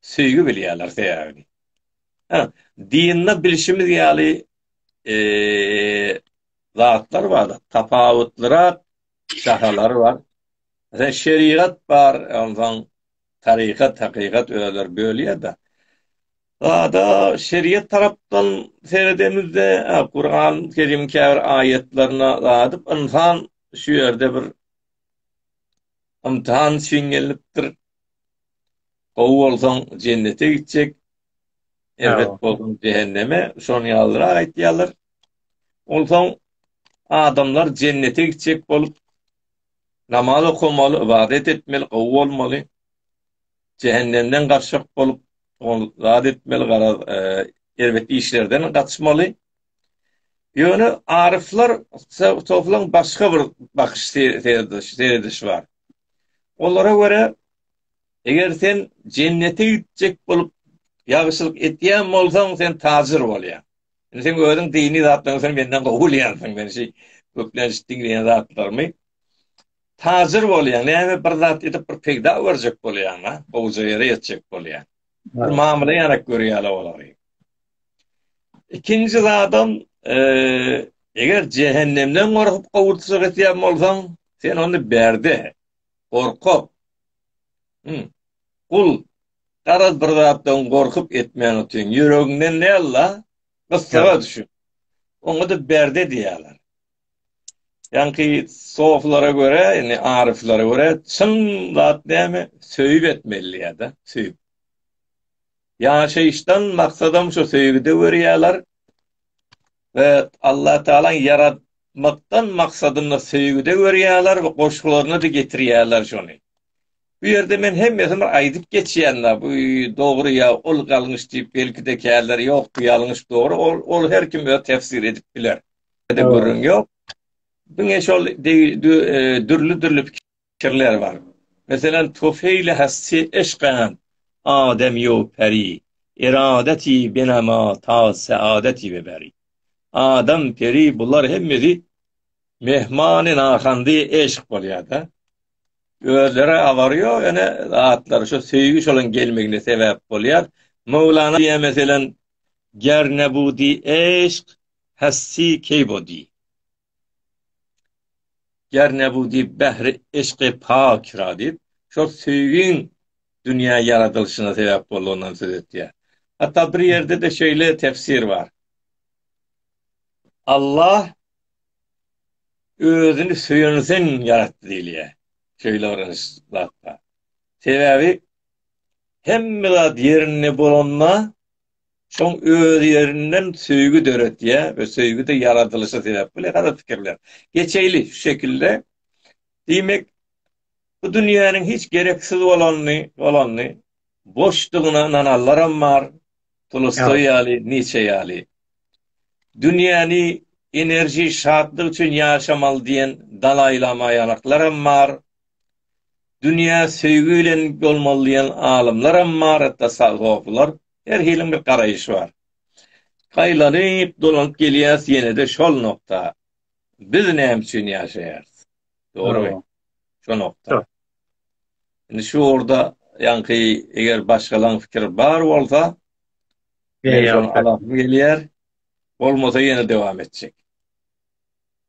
söýgi bilýärler sebäbini. Hä, dinde bilşimiz ýaly zatlar bar, tapawutlyrak şahalar bar. Şerigat bar, onsoň Tarykat, hakykat özleri bölýär-de. Zada şeriýet tarapdan seredemizde, Kuran Kerimiň käbir aýatlaryna zadyp ynsan şu ýerde bir ymtahan üçin gelipdir. Gowy bolsaň jennete gitjek. Erbet bolsaň jehenneme. Şonuň ýalyrak aýdýarlar. Onsoň adamlar jennete gitjek bolup Namaz okamaly, ybadat etmeli, gowy bolmaly. Jähennemden gaçjak bolup, ol zat etmeli, garaz, erbet işlerden gaçmaly. Ýöne aryflar soflaň başga bir bakyş seredişi bar. Olara görä, eger sen jennete gitjek bolup ýagşylyk etýän bolsaň, sen tajyr bolýaň. Indi sen özüň dini zatlaryň sen menden gowy bilýänsiň. Men şu köplenç diňleýän zatlarymy tajir bolýan, näme bir zat edip bir peýda görjek bolýan, ha? Gowja ýere ýetjek bolýan. Bir mamla ýarak görýärler olary. Ikinji zadam, e, eger cehennemden gorkup gowurtsa gitýän bolsaň, sen onu berde. Gorkup. Hum. Gul, garaz bir zatdan gorkup etmäň ötüň. Ýüregiňden näl-la? Gyssaga düşüp. Oňa-da berde diýýärler. Ýaňky soflara görä, indi aryflara görä, çyn zat näme? Söýüp etmeli diýýär-de, söýüp. Ýaşaýyşdan maksadam şu söýgüde görýärler we Allah Taalaň ýaratmakdan maksadyny söýgüde görýärler we goşgularyna-da getirýärler şony. Bu ýerde men hemmesini bir aýdyp geçýän-la, bu dogry ýa ol galňyş diýip belki-de käler ýok, bu ýalňyş dogry, ol, ol her kim öz tefsir edip biler. Ede gürrüň ýok. Diňe şol dürli-dürli pikirler bar. Meselem, Tufeýli Hassi Eşgän Adam ýu peri, eradeti benama taz seadeti we beri. Adam, peri bular hemmesi mehmany nahandy eşk bolýar-da. Özleri abary ýok ene zatlar şu söýgi şolaň gelmegine sebäp bolýar. Möwlana diýýär meselem, Ger nebudi eşk, hassi keý bodi. Ger ne bu diýip bähri yşky pakyra diýip, şol söýgiň dünýä ýaradylyşyna sebäp boldugyndan söz etýär. Hatda bir ýerde-de şeýle tefsir bar. Allah özüni söýen üçin ýaratdy diýilýär. Şeýle bir ins zat bar. Sebäbi hemme zat ýerinde bolanda Şoň öz ýerinden söýgi döretýär we söýgi-de ýaradylyşy sebäp bolýar. Gara pikirler. Geçeýli şu şekilde. Diýmek, bu dünýäniň hiç gereksiz bolanyny, bolanyny, boşdugyna ynananlaram bar, Tolstoý ýaly, Niçe ýaly. Dünýäni enerji, şatlyk üçin ýaşamaly diýen Dalaý Lama ýalaklaram bar. Dünýä söýgi bilen bolmaly diýen alymlaram bar, hatda sag-soplar. Her hiliň bir garaýyşy bar. Gaýlanyp dolanyp gelýäs ýenede şol nokta. Biz näme üçin ýaşaýarys? Dogrymy? Şo nokta. Indi şu orda ýaňky eger başgalaň fikir bar bolsa, Gelýär. Bolmasa ýene dowam etjek.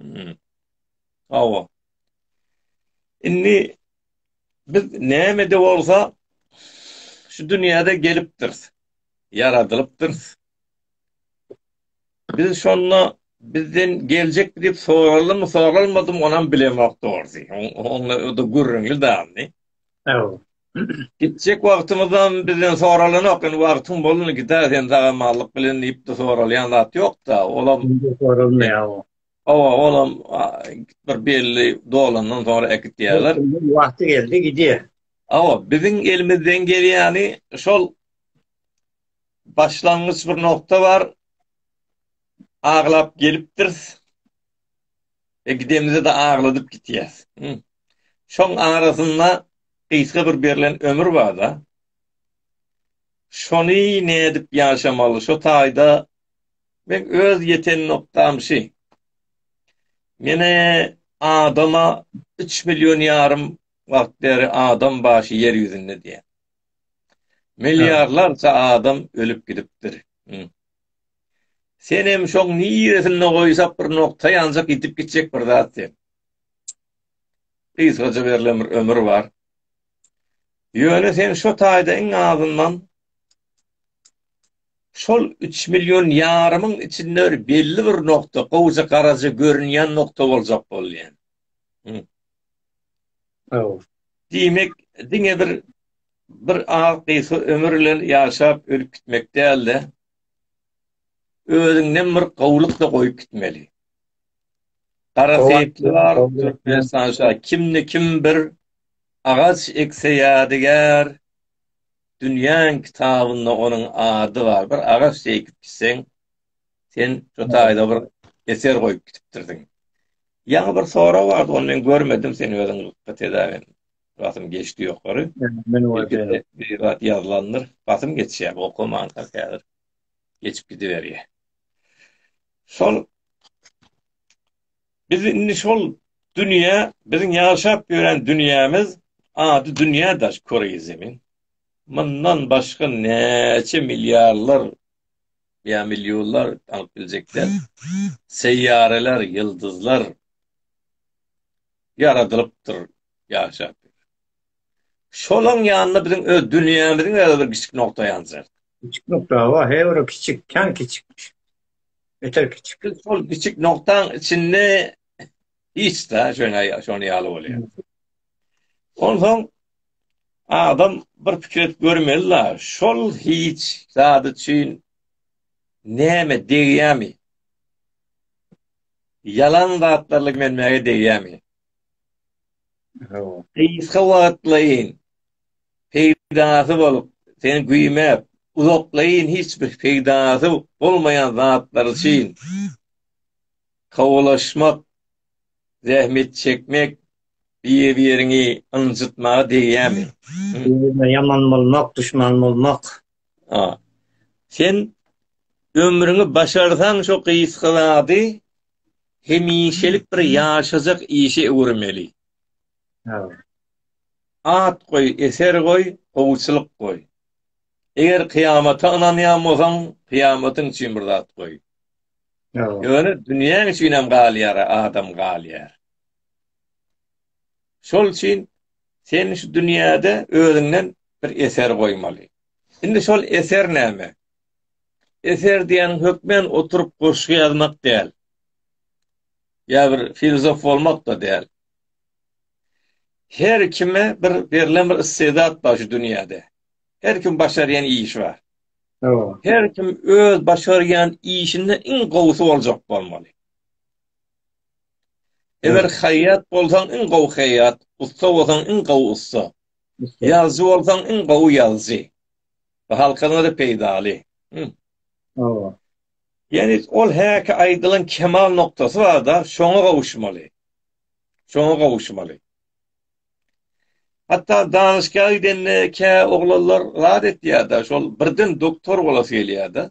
Hmm. Awa. Indi biz näme de bolsa şu dünýäde gelipdiris. Ýaradylypdyrs. Biz şonda bizden geljek diýip soraldymy, soralmadym, onam bilemok dogry. Onda o da gürrüňli damy? Awa. Gitjek wagtymyzam bizden soralanok, indi wagtyň bolany gidäs, sen sag-amanlyk bilen diýip-de soralýan zat ýok-da, olam soralmaýar o. Hawa, olam bir belli dolandan soňra äkit diýerler. Wagty geldi, gidýär. Hawa, biziň elimizden gelýäni şol başlangyç bir nokta bar, aglap gelipdiris, E gidemizde-de agladyp gitýäs. Şoň arasynda gysga bir berlen ömür bar-da. Şony nädip ýaşamaly? Şo taýda meň öz ýeten nokdam şi. Menä adama üç million ýarym wagt bäri adam başy ýer ýüzünde diýýän. Milliarlarça adam ölüp gidipdir. Senem şoň niresinde goýsak bir nokta ýanjak gidip gitjek bir zat sen. Gysgaja berlen bir ömür bar. Ýöne sen şo taýda iň azyndan şol 3 million ýarymyň içinde bir belli bir nokta, gowja garaja görünýän nokta boljak bolýan. Hı. Aw. Diýmek, diňe bir bir az gysga ömür bilen ýaşap ölüp gitmek däl-de, özüňden bir gowluk-da goýup gitmeli. Gara seýitli bar, Türkmenistan şa, kimde kim bir agaç ekse ýadygär, dünýäň kitabynda onuň ady bar. Bir agaç ekip gitseň, sen şu taýda bir eser goýup gitipdirsiň. Ýaňy bir sorag bardy, ony men görmedim, sen özüň Basym geçdi ýokary. Men o ýerde bir zat ýazlandyr. Basym geçýär, okaman häzir. Geçip gidiberýär. Şol Biz indi şol dünýä, biziň ýaşap ýören dünýämiz ady dünýä daş köreýi zemin. Mundan başga näçe milliarlar ýa millionlar alyp biljekler. Seýýareler, ýyldyzlar. ýaradylypdyr, ýaşap ýör. Şolaň ýanynda biziň öz dünýämiziň özü bir kiçik nokta ýanjak. Kiçik nokta hawa, he bir kiçik, kän kiçikmiş. Beter kiçik. Biz şol kiçik noktaň içinde hiç-de şöne şony ýaly bolýar. Onsoň adam bir pikir edip görmeli la, şol hiç zat üçin näme degýämi? Ýalan zatlarla gümenmäge degýärmi? Gysga wagtlaýyn peýdasy bolup, seni güýmäp, uzaklaýyn hiç bir peýdasy bolmaýan zatlar üçin kowulaşmak, zähmet çekmek bir-biriňi ynjytmaga degýärmi? Ýaman bolmak, duşman bolmak, A. Sen ömrüňi başarsaň şo gysga zady hemişelik bir ýaşajak işe öwürmeli. At goý, eser goý, howçulyk goý. Eger kyýamata ynanýan bolsaň, kyýamatyň üçin bir zat goý. Ýöne dünýäň üçinem galýar, adam galýar. Şol üçin sen şu dünýäde özüňden bir eser goýmaly. Indi şol eser näme? Eser diýýäniň hökmen oturyp goşgy ýazmak däl. Ýa bir filozof bolmak-da däl. Her kime bir berlen bir istedat bar şu dünýäde. Her kim başarýan işi bar. Her kim öz başarýan işinde iň gowusy boljak bolmaly. Eger haýýat bolsaň iň gowy haýýat, ussa bolsaň iň gowy ussa, ýazyjy bolsaň iň gowy ýazyjy we halkyňa-da peýdaly. Hawa. Ýani ol häki aýdylan kemal noktasy barda şoňa gowuşmaly. Şoňa gowuşmaly. Hatda danyşgaha gidende kä oglanlar zat etýärda şol birden doktor bolasy gelýärda.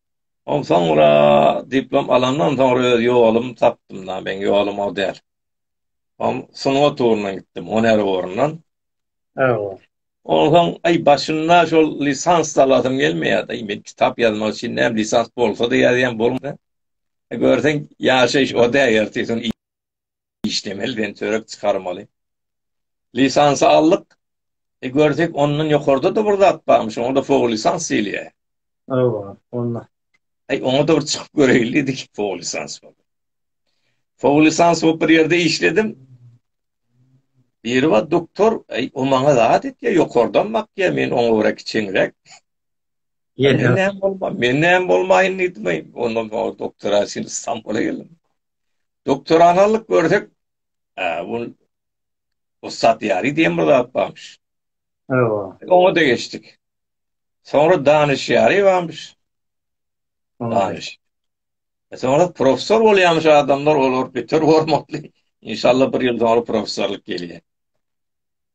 Onsoňra diplom alandan soňra öz ýolumy tapdym-da, meň ýolum o däl. Ol sungat ugruna gitdim, huner ugrundan. Hawa. Onsoň, aý, başynda şol lisans alasym gelmeýärdi. Aý, men kitap ýazmak üçin näme, lisans bolsa-da ýazýan bolmasa. Görseň, ýaşaýyş o däl ertir-ýaşuň. işlemeli diýen çörek çykarmaly. Lisansy aldyk. E görsek ondan ýokarda da bir zat barmyş. Onda da fogo lisans diýilýär. Hawa, onda. Ay ona da bir çykyp göreýin diýdik fogo lisans bolup. Fogo lisans bolup bir ýerde işledim. Biri var doktor, ay o maňa zat etýär, ýokardan bakýar, men oňa görä kiçeňräk. Ýene näme bolma, men näme bolmaýyn diýdim. Onda doktora sen Istanbula geldim. Doktorany alyp görsek, bu Ussat Ýary diýen bir zat barmyş. Hawa. Oňa da geçdik. Soňra Danyş Ýary barmyş. Danyş. E, soňra professor bolýarmyş adamlar, olar beter hormatly. İnşallah bir ýyl soňra professorlyk gelýär.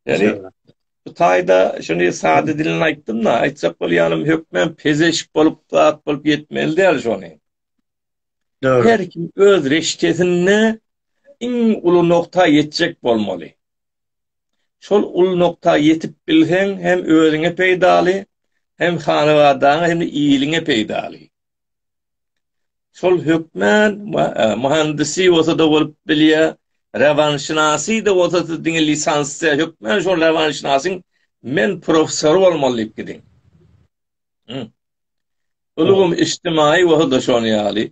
Yani bu taýda şuny sade dilini aýtdym-da, aýtjak bolýanym hökmen pezeşik bolup, zat bolup ýetmeli däl şony. Dogry. Her kim öz reşkesinde iň uly nokta ýetjek bolmaly. Şol uly nokta ýetip bilseň, hem özüňe peýdaly, hem hanabadaňa, hem iliňe peýdaly. Şol hökmän e, muhandisi bolsa-da bolup bilýär, rewanşynasy da bolsa diňe lisansda hökmän şol rewanşynasyň men professor bolmaly diýip gidiň. Ulgam içtimaýy bolsa-da şon ýaly,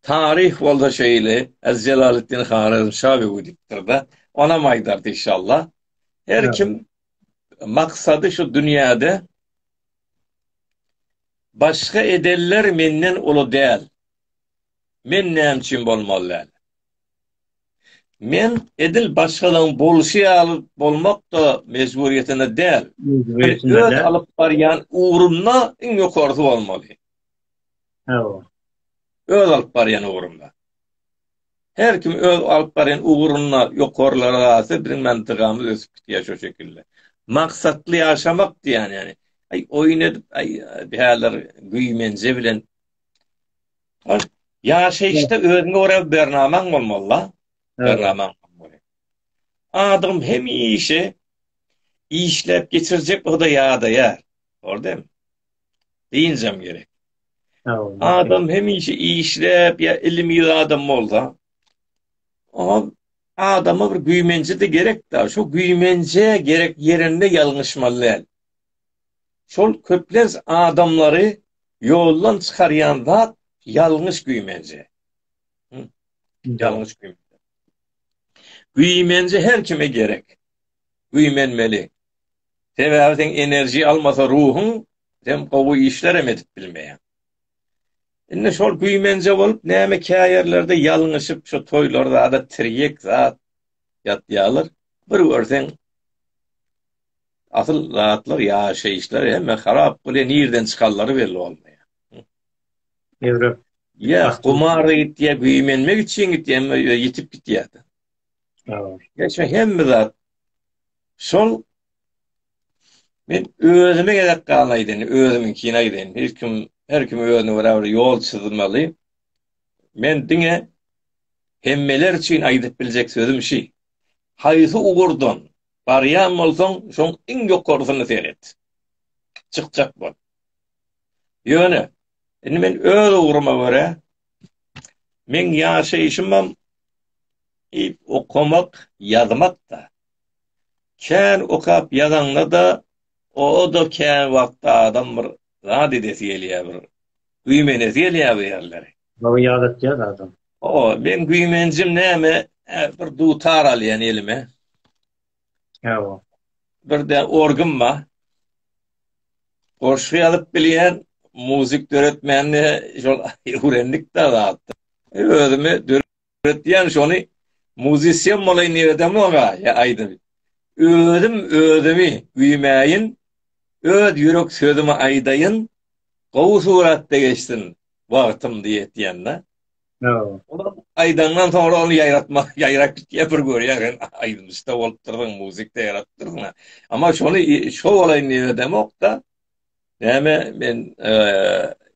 taryh bolsa şeýle, Ez Jelaleddin Harezmşa we gidipdir-de, onam aýdardy işalla. Her kim maksady şu dünýäde başga edenler menden uly däl, men näme üçin bolmaly däl? Men edil başgalaryň bolşy ýaly bolmak-da mejburyýetinde däl. Men öz alyp barýan ugrumda iň ýokarysy bolmaly. Hawa. Öz alyp barýan ugrumda. Her kim öz alyp barýan ugrunda ýokarlara galsa, biziň mentegamyz ösüp gitýär şo şekilde. Maksatly ýaşamak diýýän ýaly. Aý, oýun edip, aý, bu häzir güýmenje bilen Ýaşaýyşda özüňe görä bernamaň bolmaly-la. Bernamaň. Adam hemişe işläp geçirjek o-da ýadaýar. Gördüňmi? Dynjam gerek. Adam hemişe işläp ýa ilim ýa adam bolsa, o adama bir güýmenje-de gerek-de. Şu güýmenje gerek ýerinde ýalňyşmaly däl. Şol köplenç adamlary ýoldan çykarýan zat ýalňyş güýmenje. Ýalňyş güýmenje. Güýmenje her kime gerek. Güýmenmeli. Sebäbi sen enerji almasa ruhuň sen gowy işler hem edip bilmeýär. Indi şol güýmenje bolup näme käýerlerde ýalňyşyp şu toýlarda ada tirýek zat ýatýarlar. Bir görseň Asyl zatlar ýaşaýyşlar hemme harap bolýar nirden çykanlary belli bolmaýar. Ýöwrüp. Ýa gumara gitýär, güýmenmek üçin gitýär, hemme ýitip gitýär. Geçme hemme zat. Şol men özüme gerek galan aýdyn, özümiň kine aýdyn. Hiç kim, her kim özüne görä bir ýol çyzmaly. Men diňe hemmeler üçin aýdyp biljek sözüm şi. Haýsy ugurdan Barýan bolsaň, şoň iň ýokarysyny seret. Çykjak bol. Ýöne, indi men öz ugruma görä, meň ýaşaýşymam i okamak, ýazmak-da. Kän okap ýazaňda-da, o-da kän wagtda adam bir zat edesi gelýär, bir güýmenesi gelýär bir ýerleri. Bagy ýadatýar adam. O, meň güýmenjim näme, bir dutar alýan elime. Hawa. Birde orgym bar. Goşgy ýazyp bilýän, muzyk döretmänini şol öwrendik-de zatda. Özümi Ötýän şony muzisyen bolaýyn diýip edemok-a, ýa aýdymy. Özüm özümi güýmäýin, öz ýürek sözümi aýdaýyn, gowy suratda geçsin wagtym diýip etýän-dä. Olar aýdandan soňra ony ýaýratmak, ýaýrap gitýär, bir görýärin, aýdymçy-da bolupdyr, muzyk-da ýaratdyr. Emma şony şou bolaýyn diýip edemok-da. Näme men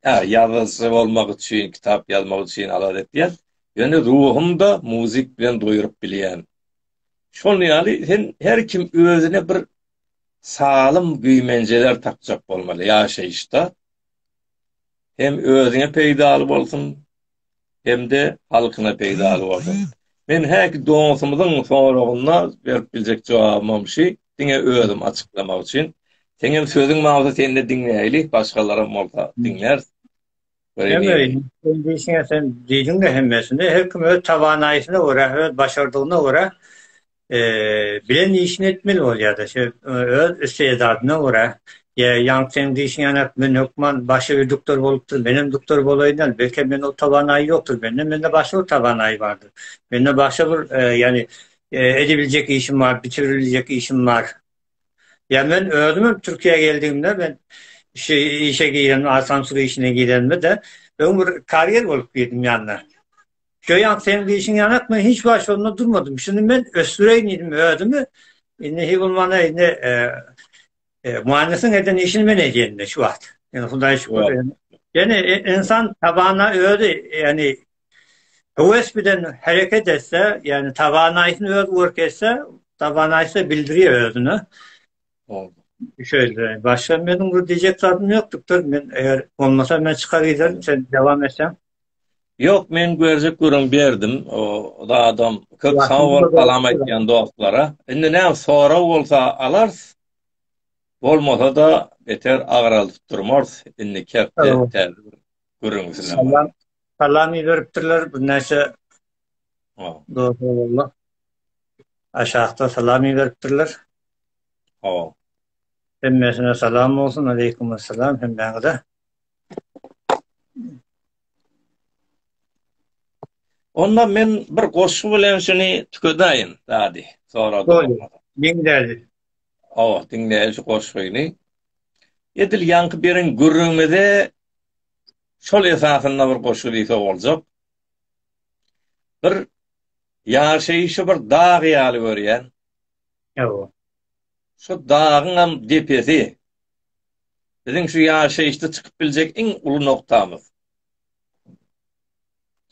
ha ýazyjy bolmak üçin, kitap ýazmak üçin alada etýän. Ýöne ruhumda muzyk bilen doýuryp bilýän. Şol ýaly sen her kim özüne bir salym güýmenjeler tapjak bolmaly ýaşaýyşda. Hem özüňe peýdaly bolsun, hem-de halkyna peýdaly bolsun. Men häki doňusymyzyň soragyna berip biljek jogabymam şi, diňe özüm açyklamak üçin. Seňem sözüň bolsa sende diňläýli, başgalaram bolsa diňläris. Sen diýdiň-de hemmesini, her kim öz tawanaýysyna görä, öz başardygyna görä bilen işini etmeli bolýar-da, öz istedadynda görä, ýa ýaňky seň diýşiň ýaly-ak, men hökman başy bir duktor bolupdyr, menem duktor bolaýyn-a, belkem mende o towanaý ýokdur, mende, mende başga bir towanaý bardyr, mende başga bir, ýagny, edibiljek işim bar, bitiribiljek işim bar. Ýa men özümem Türkiýä geldigimde, men şu işe giremde, asansur işine giremde-de, öň bir karýer bolup girdim ýanyna. Joýan seň dişiň ýanak men hiç wagt şonda durmadym. Şuny men ösdüreýin diýdim özümi. Indi hi bolmana indi Muannysyň eden işini men edýän şu wagt. Ýöne Hudaýa şükür. Ýöne insan tabana özi, ýöne höwes bilen hereket etse, ýöne tabanaýyny öz görk etse, tabanaýysa bildirýär özüni. Şeýle, başga meniň bir diýjek zatym ýokdukdyr. Men eger bolmasa men çykar giderin, sen dowam etseň. Ýok men görjek görem berdim o zadam köp sag bol salam aýtýan dostlara indi näme sorag bolsa alarys bolmasa-da beter agralyp durmarys indi kepde salam iberipdirler birnäçe dostlar aşakda salam iberipdirler hemmesine salam bolsun aleýkum assalam hemmäňize Onda men bir goşgy bilen şuny tükedäýin, dady, sorady. Goý, diňläli. Awa, diňläli şu goşgyny. Edil ýaňky beren gürrüňimize şol esasynda bir goşgy diýse boljak. Bir ýaşaýşy bir dag ýaly görýän, Hawa. Şu dagyňam depesi biziň şu ýaşaýyşda çykyp biljek iň uly noktamyz.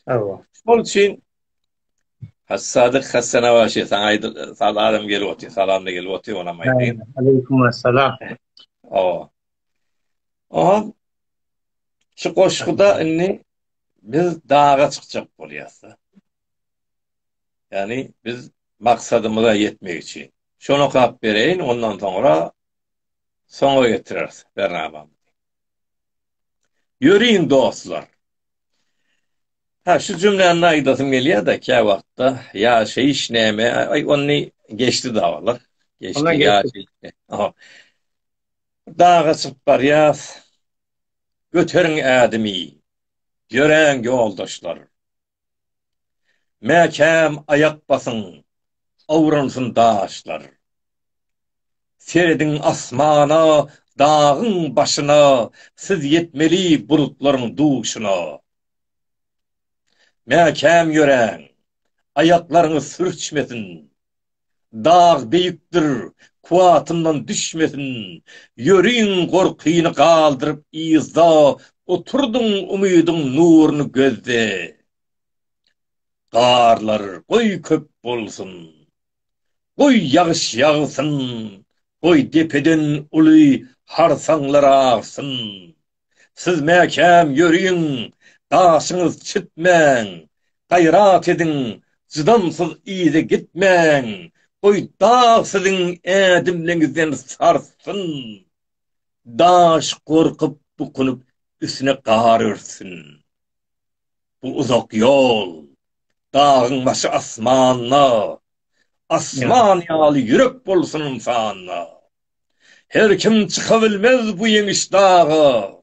Hawa. Şol üçin Hassadyk Hassanabaşy saňa aýdy, saz adam gelip otyr, salamda gelip otyr, onam aýdyň. Aleýkum assalam. Hawa. Aha. Şu goşguda indi biz daga çykjak bolýas. Ýagny biz maksadymyza ýetmek üçin. Şony okap bereýin, ondan soňra soňa getireris bernamamyzy. Ýöriň dostlar. Ha şu jümläni aýdasym gelýär-de käwagtda ýaşaýyş näme? Aý ony geçdi dawalar. Geçdi ýaşaýyş. Daga çykyp barýas. Göteriň ädimi. Ýöräň ýoldaşlar. Mäkäm aýak basyň, awransyn daşlar. Serediň asmana, dagyň başyna, Siz ýetmeli bulutlaryň duşuna. Mäkäm ýöräň, aýaklaryňyz sürçmesin. Dag beýikdir, kuwwatyndan düşmesin, Ýöriň gorkyny galdyryp yzda, Oturdyň umydyň nuruny gözde. Garlar goý köp bolsun, goý ýagyş ýagsyn, Goý depeden uly harsaňlar agsyn, Siz mäkäm ýöriň, daşyňyz çitmäň! Gaýrat ediň, jydamsyz yza gitmäň! Goý, dag siziň ädimleňizden sarsyn! Daş gorkup, bukunyp, üstüne gar örtsin! Bu uzak ýol, dagyň başy asmanda, asman ýaly ýürek bolsun ynsanda! Her kim çyka bilmez bu ýeňiş daga,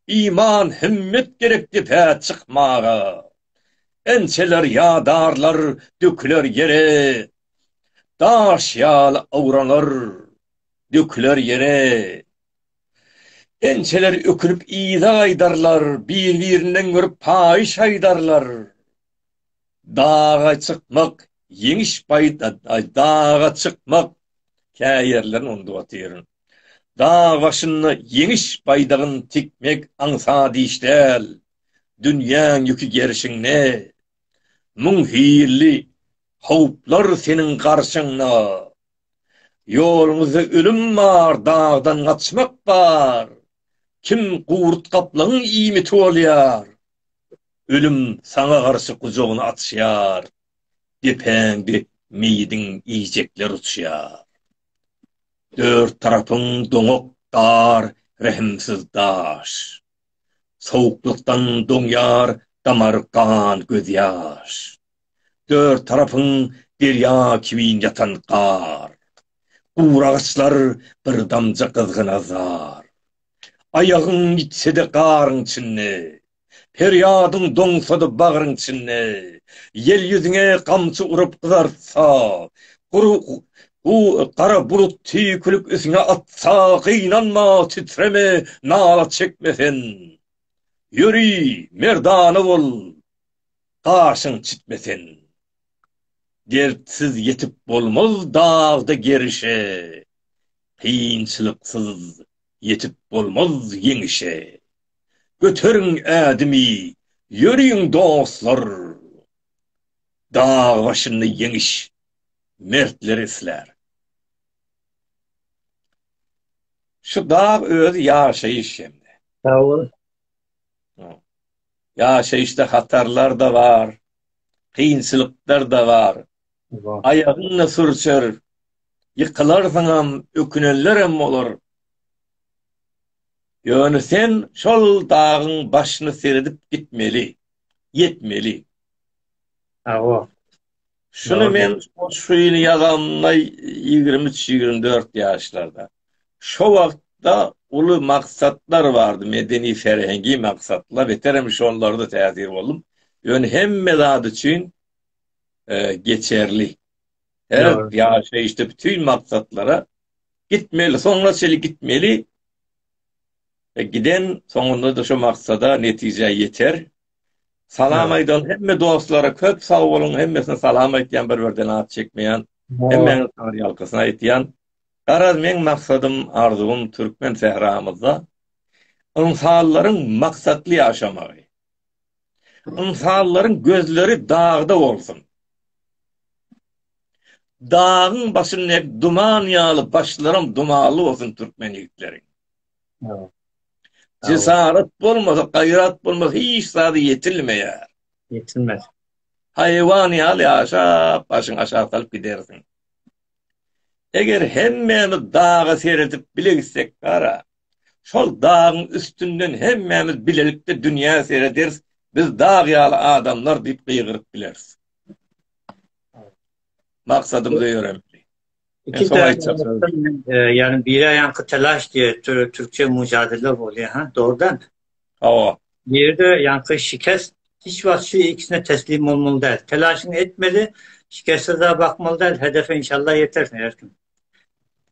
Iman, himmet gerek depä çykmaga. Ençeler ýadarlar döküler ýere, Daş ýaly awranar, döküler ýere. Ençeler ökünip yza gaýdarlar, Bir-birinden görüp paýyş aýdarlar. daga çykmak, ýeňiş baýda daga çykmak, kä ýerlerini unudyp otyryn. Dag başynda ýeňiş baýdagyny tikmek aňsat iş däl. Dünýäň ýüki gerşiňde. Müň hilli howplar seniň garşyňda. Ýoluňyzda ölüm bar, dagdan gaçmak bar. Kim gurt gaplaň iýmiti bolýar. Ölüm saňa garşy gujagyny açýar, Depäňde meýidiň iýjekler uçýar. Dört tarapyň doňak dar, rehimsiz daş, Sowuklykdan doňýar damar gan gözýaş. Dört tarapyň derýa kiwin ýatan gar, Guragaçlar bir damja gyzgyna zar. Aýagyň ýitse-de garyň içinde, Perýadyň doňsa-da bagryň içinde, Ýel ýüzüňe gamçy urup gyzartsa, Gury gara bulut tüýkülip üstüňe atsa, Gynanma, titreme, nala çekme sen, Ýöri, merdana bol, gaşyň çitme sen. Dertsiz ýetip bolmaz dagda gerişe, Kynçylyksyz ýetip bolmaz ýeňişe. Göteriň ädimi, ýöriň dostlar, Dag başynda ýeňiş mertler islär. Şu dag özi ýaşaýyş hem. Sagbolun. Ýaşaýyşda hatarlar-da bar, kynçylyklar-da bar. Aýagyň-da sürçer, ýykylarsyňam, ökünenlerem bolar. Ýöne sen şol dagyň başyny seredip gitmeli, ýetmeli. Hawa. Şuny men şu ýyl ýazamda ýigrimi üç-ýigrimi dört ýaşlarda. Şo wagtda uly maksatlar bardy, medeni serhengi maksatlar, beterem şonlarda täsir boldum. Ýöne hemme zat üçin geçerli. Her ýaşaýyşda bütin maksatlara gitmeli, soňuna çenli gitmeli. E, giden soňunda da şo maksada netijä ýeter. Salam aýdan hemme dostlara köp sag boluň, hemmesine salam aýtýan bir birden at çekmeýän. Hemmäňiz saňa ýalkasyn aýtýan. Garaz meň maksadym, arzuwym türkmen sähramyzda ynsanlaryň maksatly ýaşamagy. Ynsanlaryň gözleri dagda bolsun. Dagyň başyndaky duman ýaly başlaram dumanly bolsun türkmen ýigitleriň. Jesaret bolmasa, gaýrat bolmasa hiç zada ýetilmeýär. Ýetilmez. Haýwan ýaly ýaşap, başyňy aşak salyp gidersiň. Eger hemmämiz daga seredip bile gitsek bara, şol dagyň üstünden hemmämiz bilelikde dünýä serederis, biz dag ýaly adamlar diýip gygyryp bileris. Maksadymyza ýörelik. Iki tarafdan, yani biri aýanky telaş diye türkçe mücadele bolýar, ha, dogrudan. Hawa. Bu ýerde ýaňky şikes hiç wagt şu ikisine teslim bolmaly däl. Telaşyňy etmeli, şikessiz-ä bakmaly däl, hedefe inşallah ýetersiň her kim.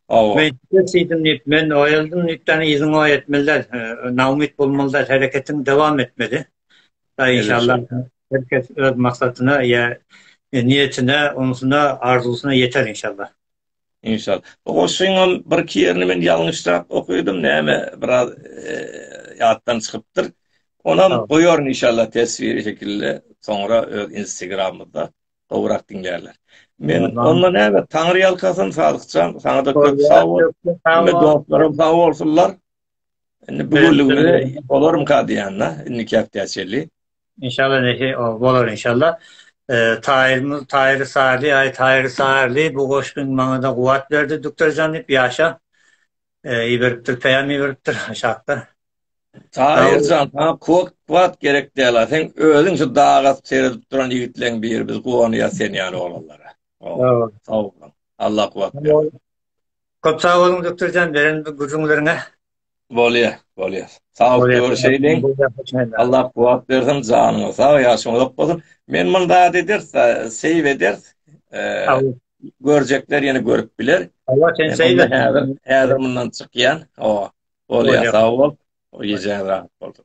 Hawa. Men şikes iýdim diýip, men oýaldym diýip däl yzyňy oý etmeli däl. Naumyt bolmaly däl, hereketiňi dowam etmeli. Daýy inşallah her kes öz maksadyna ýa niýetine, onsuna, arzuwsyna ýeter inşallah. Inşal. Bu goşgyňam bir iki ýerini men ýalňyşrak okadym näme biraz ýatdan çykypdyr. Onam goýaryn inşallah teswiri şekilde soňra öz Instagramymda gowrak diňlärler. Men onda näme Taňry ýalkasyn Sadykjan saňa da köp sag bol. Hemme dostlarym sag bolsunlar. Indi bu günlügine olarmyka diýýän-de, indiki hepdä çenli. Inşallah neşe bolar inşallah. Taýyrmyz Taýyr Sarly, aý Taýyr Sarly bu goşgyň maňada guwat berdi Dükterjan diýip ýaşa. Iberipdir, peýam iberipdir aşakda. Taýyrjan saňa kod kuwat gerek däl-a, seň özüň şu daga seredip duran ýigitleň biri, biz guwanýas sen ýaly oglanlara. Sag boluň. Allah kuwat bersin. Köp sag boluň Dükterjan beren bu gürrüňleriňe. Bolýa, bolýa. Sag bol, görüşeýliň. Allah kuwwat bersin, janyňyz sag, ýaşyň uzak bolsun. Men muny zat ederis, seýw ederis. Görjekler ýene görüp biler. Hawa, sen seýw et. Häzir mundan çykýan. Hawa. Bolýa, sag bol. Gijäň rahat bolsun.